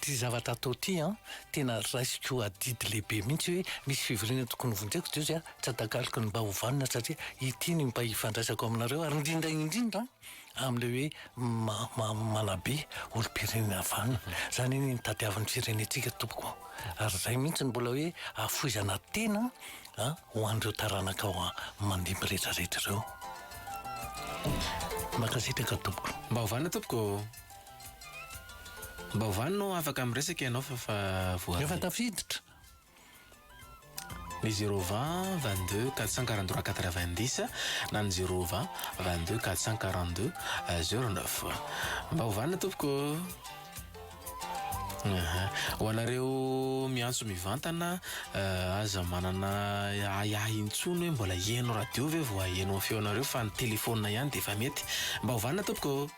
ty zavatra atao ty an tena raisiko adidy lehibe mihitsy hoe misy fivoriana tokony hovonjeko Dieu zay tsy atakaloko ny mba hovanona satria ity ny mba hifandraisako aminareo ary indrindra indrindra amle hoe manabe olompirenena vanona zany anie ny tadiavin'ny firenentsika tompoko ary zay mihitsy ny mbola hoe afoizana tena A, Ho an'ireo taranakao mandimby retraretra ireo. Mankasitraka tompoko. Mba hovana tompoko ô. Mba hovany no afaka miresaka ianao fa efa voaray. Efa tafiditra. Ny zéro vingt vingt deux quatre cent quarante trois quatre vingt dix na ny zéro vingt vingt deux quatre cent quarante deux zéro neuf. Mba hovana tompoko ô. Aha. Ho anareo miantso mivantana, aza manana ahiahy intsony hoe mbola heno radio ve vao haheno ny feonareo fa ny telefaonina ihany dia efa mety. Mba ho vanona tompoko ô.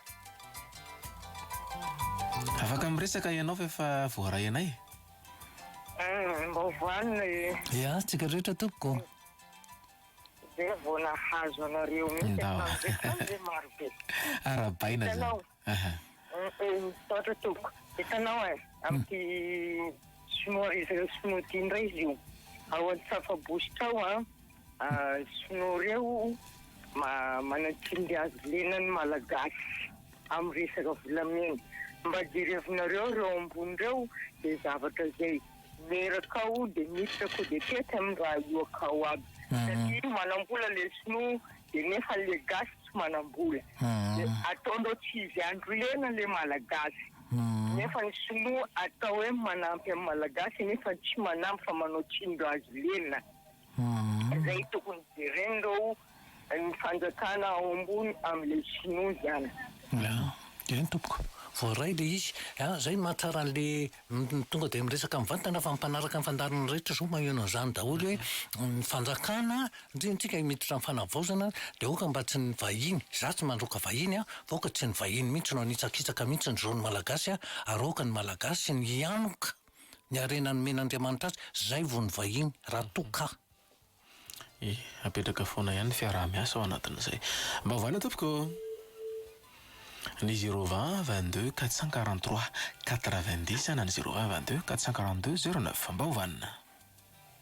Afaka miresaka ianao fa efa voaray anay. Mba ho vanona e. Ia, antsika rehetra tompoko. Dia vao nahazo anareo mihitsy aho tamin'izay tamin'izay marobe. Arahabaina izany. Hitanao. Aha. Misaotra tompoko. Hitanao e, amin'ity sinoa izy ireo sinoa ity indray izy io ao an-tsafabositra ao an, sinoa ireo manatsily hazo lena ny malagasy amin'ny resaka volamena. Mba jerevinareo ireo ambony ireo dia zavatra izay meraka ao dia miditra coup d'etat tsy amin'ny raha ioaka ao aby satria manam-bola ilay sinoa de nefa le gasy tsy manambola de ataondreo tsy izy andro lena le malagasy nefa ny sinoa atao hoe manampy am malagasy nefa tsy manampy fa manao tsindro azy lena zay tokony jerenreo ny fanjakana ao ambony am le sinoa zany. Eny tompoko, voaray le izy, zay no mahatsara anle Ny tonga dia miresaka mivantana fa mpanaraka ny fandaharana rehetra izao maheno an'izany daholo hoe ny fanjakana ndry antsika miditra amin'ny fanavaozana dia aoka mba tsy ny vahiny, za tsy mandroaka vahiny an, fa aoka tsy ny vahiny mihintsy no hanitsakitsaka mihintsy ny zon'ny malagasy an, ary aoka ny malagasy ny hianoka ny harena nomen'Andriamanitra azy, zay vao ny vahiny raha toa ka. E, apetraka foana ihany ny fiaraha-miasa ao anatin'izay. Mba ovaina tompoko ô! Ny zéro vingt vingt deux quatre cent quarante trois quatre vingt dix na ny zéro vingt vingt deux quatre cent quarante deux zéro neuf. Mba ovaina.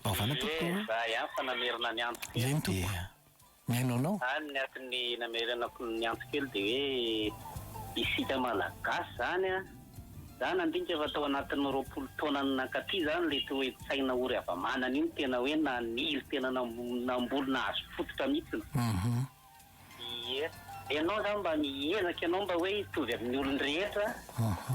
Mba ovaina tompoko ô! Ie, za ihany fa namerina ny antso kely. Eny tompoko. Ie. Mihaino anao. A, ny aton'ny namerenako ny antso kely dia hoe isika Malagasy izany an! Za nandinika fa tao anatin'ny roapolo taonany nankaty zany ilay toe-tsaina ory hava-manana io no tena hoe nanily tena namboly nahazo fototra mihitsiny. Ie. Ianao zany mba miezaka ianao mba hoe hitovy amin'ny olon-drehetra,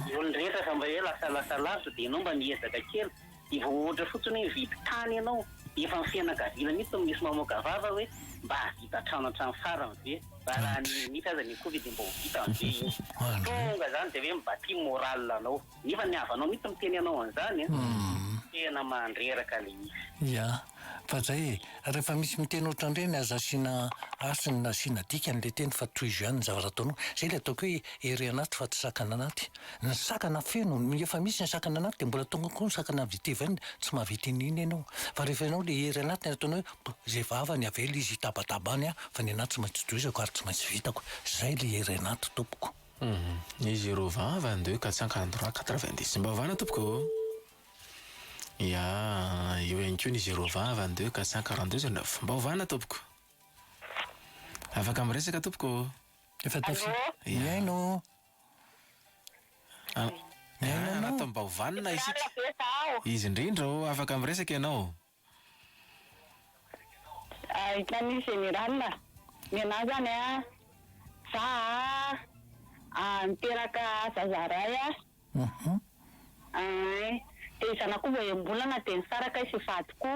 ny olon-drehetra efa mba hoe lasa lasa lavitra dia ianao mba miezaka kely. Dia vao ohatra fotsiny hoe mividy tany ianao, efa ny fianakaviana mihitsy no misy mamoaka vava hoe mba hahavita trano hatramin'ny farany ve? Raha raha ny mihitsy aza ny akoho ve dia mba ho vitany ve io? Tonga izany dia hoe mi-bâti morale anao. Nefa ny havanao mihitsy miteny anao an'izany an! Tena mandreraka ilay izy. Fa zay e, rehefa misy miteny otran'ireny aza asiana hasiny na asiana dikany le teny fa tohizo ihany ny zavatra ataonao. Zay le ataoko hoe ery anaty fa tsy sakana anaty. Ny sakana feno, ny efa misy ny sakana anaty de mbola tonga koa ny sakana vita evn tsy mahavita an'iny ianao. Fa rehefa ianao le ery anaty ny ataonao hoe zay vavany avela izy hitabataba any aho fa ny anaty tsy maintsy tohizako ary tsy maintsy vitako. Zay le ery anaty tompoko. Izy roa vavany de hoe katsanka androany quatre-vingt-dix. Mba ovana tompoko. Ya, eo ihany koa ny zéro vingt, vingt deux, quatre cent quarante deux, zéro neuf. Mba ovana tompoko. Afaka miresaka tompoko ô. Efa tafita. Allô. Mihaino. Mihaino anao. Mba ovanona isika. Izy indrindra ô, afaka miresaka ianao. Ahitany général a! Nenah izany a! Za a! niteraka zaza iray a! Ain! Dia zanakoo vao enim-bolana dia nisaraka izy sy vadiko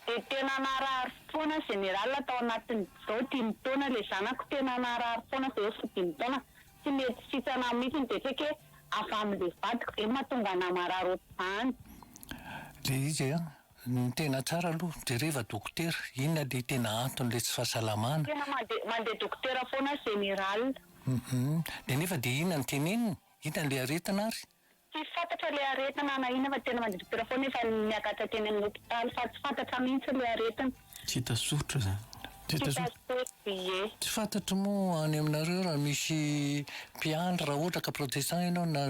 dia tena naharary foana général tao anatin'izao dimy taona ilay zanako tena naharary foana izay efa dimy taona Tsy mety fitsana mitsy ny betreke avy amle vadiko zay matonga anah marary otrzany. Le izy a, ny tena tsara aloha jereva dokotera, inona le tena antony le tsy fahasalamana. Tena mande mande dokotera foana general. Humm de nefa de inona no teneniny, inona le aretina ary. Tsy fantatra ilay aretina na inona fa tena mandiri-pera foana efa niakatra teny amin'ny hopitaly fa tsy fantatra mihitsy ilay aretina. Tsy hita soritra zany. Tsy hita soritra ie. Tsy fantatro moa any aminareo raha misy mpiandry raha ohatra ka protestant ianao na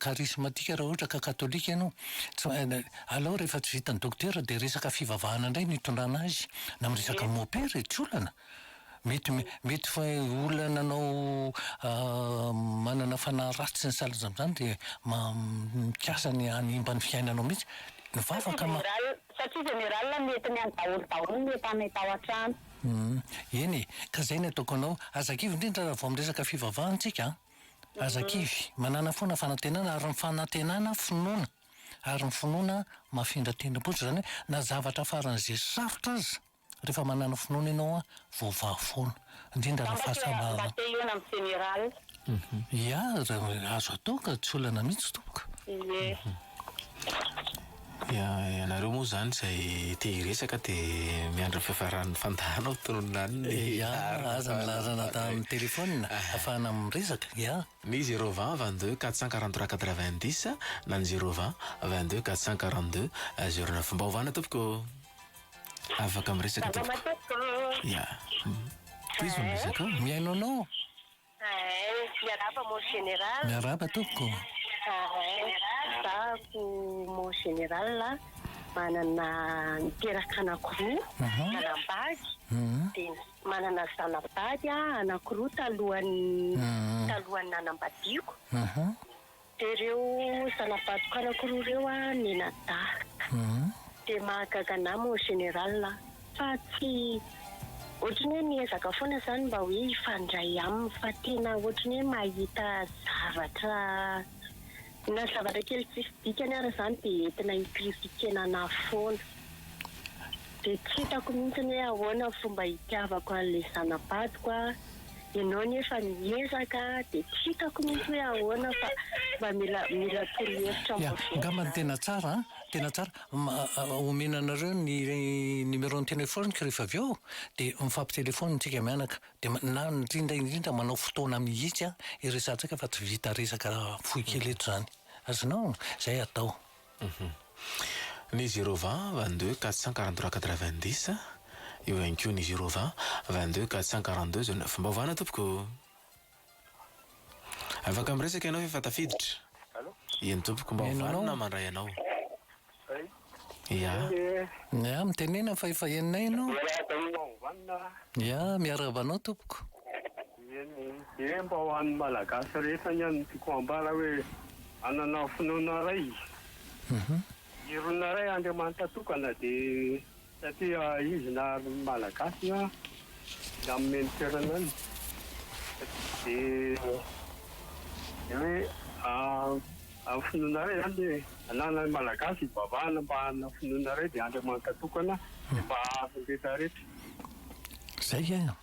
karismatika raha ohatra ka katolika ianao tsy main, aleo rehefa tsy vitan'ny dokotera dia resaka fivavahana indray no itondrana azy na miresaka mopera e, tsy olana. Mety mety fa olona nanao manana fanahy ratsy ny salan'izany amin'izany dia mikasa ny hanimba ny fiainanao mihitsy. Mivavaka ma. Satria général mety ny an'i daholo daholo ny efa any tao an-trano. Eny e, ka izay ny ataoko anao, aza kivy indrindra raha vao miresaka fivavahana tsika an! Aza kivy, manana foana fanantenana ary ny fanantenana finoana, ary ny finoana mafindra tendrombohitra, izany hoe na zavatra faran'izay sarotra aza, Rehefa manana finoana ianao an, voavaha foana. Indrindra raha fahasambarana. Mba te hihaona amin'ny jeneraly. Ia, raha azo atao ka tsy olana mihitsy tompoko. Ie. Ia, ianareo moa izany izay te hiresaka dia miandry ny fiafaran'ny fandaharana ho tononina any ny laharana. Ia, aza ny laharana tamin'ny telefaonina ahafahana miresaka. Ia. Ny zéro vingt vingt deux quatre cent quarante trois quatre vingt dix na ny zéro vingt vingt deux quatre cent quarante deux zéro neuf. Mba ovana tompoko. Afaka miresaka tompoko. Salama tompoko. Ya. Iza no resaka? Mihaino anao. Miarahaba mon général. Miarahaba tompoko. Zahako mon général manana niteraka anakiroa manambady dia manana zanabady anakiroa talohan'ny talohan'ny nanambadiako. Dia ireo zana-batokanako roa ireo mianadahy. Dia mahagaga anah mon général a! Fa tsy ohatran'ny hoe miezaka foana izany mba hoe hifandray aminy fa tena ohatran'ny hoe mahita zavatra na zavatra kely tsisy dikany ary izany dia entina hi-critiquer-na anah foana. Dia tsy hitako mihitsy hoe ahoana ny fomba hitiavako an'ilay zana-badiko a! Ianao anie efa miezaka dia tsy hitako mihitsy hoe ahoana fa mba mila mila torohevitra Yeah, vaovao angambany zany. tena tsara an! Tena tsara. M- Omena anareo ny numéro-n'ny téléphone-ko rehefa avy eo dia mifampitelefaonina tsika mianaka. Dia ma- na indrindra indrindra manao fotoana mihitsy an, hiresahantsika fa tsy vita resaka fohy kely eto izany. Azonao? Izay atao. Ny zéro vingt, vingt deux, quatre cent quarante trois, quatre vingt dix, eo ihany koa ny zéro vingt, vingt deux, quatre cent quarante deux, zéro neuf. Mba ovana tompoko o! Afaka miresaka ianao fa efa tafiditra. Allo? Eny tompoko, mba Mihaino anao. ovanona mandray anao. Ay, Ia. eny e. Ia, mitenena fa efa henonay ianao. Miarahaba anao Ovanona. Ia, miarahaba anao tompoko. Eny dia mba ho an'ny Malagasy rehetra anie no tiako hambara hoe manana finoana iray izy. Irona iray Andriamanitra tokana dia satria izy nahary ny Malagasy na nanome ny toerana any dia dia hoe amin'ny finoana iray izany dia ananan'ny Malagasy hivavahana mba hanana finoana iray dia Andriamanitra tokana dia mba hahary ny rehetra rehetra. Izay an!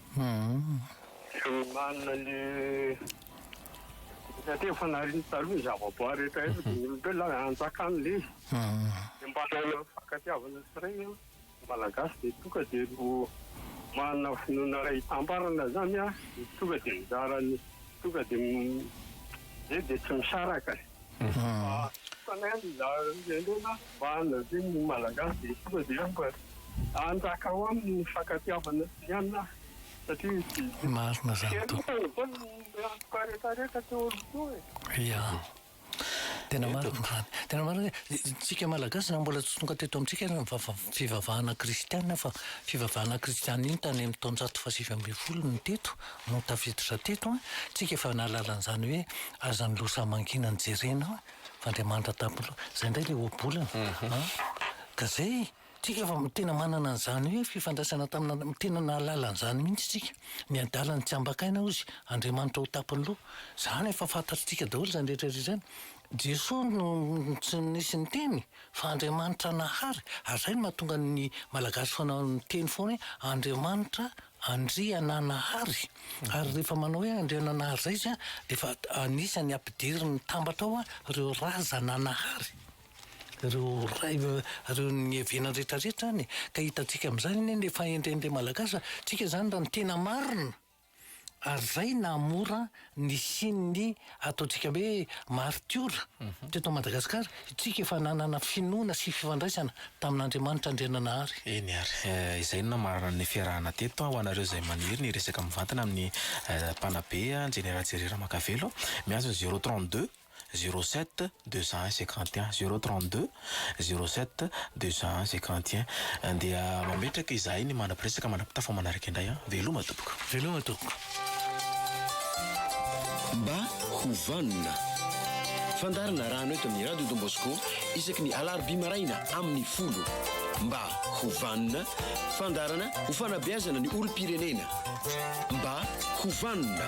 Fihinanana le Efa teo fanahiriny taloha ny zavaboary rehetra eto dia ny olombelona hanjakany le izy mba hanana ny fankatiavana sy reny an, ny malagasy dia tonga dia ho manana finoana iray hitambarana izany an, tonga dia mizara ny tonga dia dia tsy misaraka. Marina zany tompoko. Ia. Tena marina zany. Tena marina hoe tsika Malagasy zany mbola tsy tonga teto amintsika ny fivavahana kristiana fa fivavahana kristiana iny tany amin'ny taonjato fahasivy ambin'ny folo no teto. no tafiditra teto an, tsika efa nahalala an'izany hoe aza ny loza mankinany jerena fa Andriamanitra tampolo zay ndray le ohabolana an, ka zay tsika efa tena manana an'izany hoe fifandraisana tamina tena nahalala an'izany mihitsy tsika ny adalany tsy ambakaina ozy Andriamanitra ho tapiny lo zany efa fantatritsika daholo zany rehetra rehetra zany Jesoa no tsy nisy niteny fa Andriamanitra nahary ary zay no mahatonga ny Malagasy foana miteny foana hoe Andriamanitra Andriananahary, ary rehefa manao hoe Andriananahary zay izy dia efa anisany ampidiriny mitambatra ao ireo razananahary, ireo ray, ireo nihevenany rehetra rehetra any e! ka hitantsika amin'izany anie ny fahendren'ilay Malagasy fa tsika izany raha ny tena marina ary izay naha mora nisian'ny ataontsika hoe maritiora teto Madagasikara, isika efa nanana finoana sy fifandraisana tamin'Andriamanitra Andriananahary. Eny ary, izay no namarana ny fiarahana teto ho anareo izay maniry ny resaka mivantana amin'ny mpanabe, Jenera Jerry Ramakavelo, miazo ny zéro trente deux. zéro sept deux cent un cinquante et un zéro trente deux zéro sept deux cent un cinquante et un Andeha mametraka izahay ny manam-piresaka manam-pitafa manaraka indray an! Veloma tompoko! Veloma tompoko! Mba ho vanona. Fandaharana rano eto amin'ny Radio Don Bosco isaky ny alarobia maraina amin'ny folo. Mba ho vanona, fandaharana ho fanabeazana ny olom-pirenena. Mba ho vanona.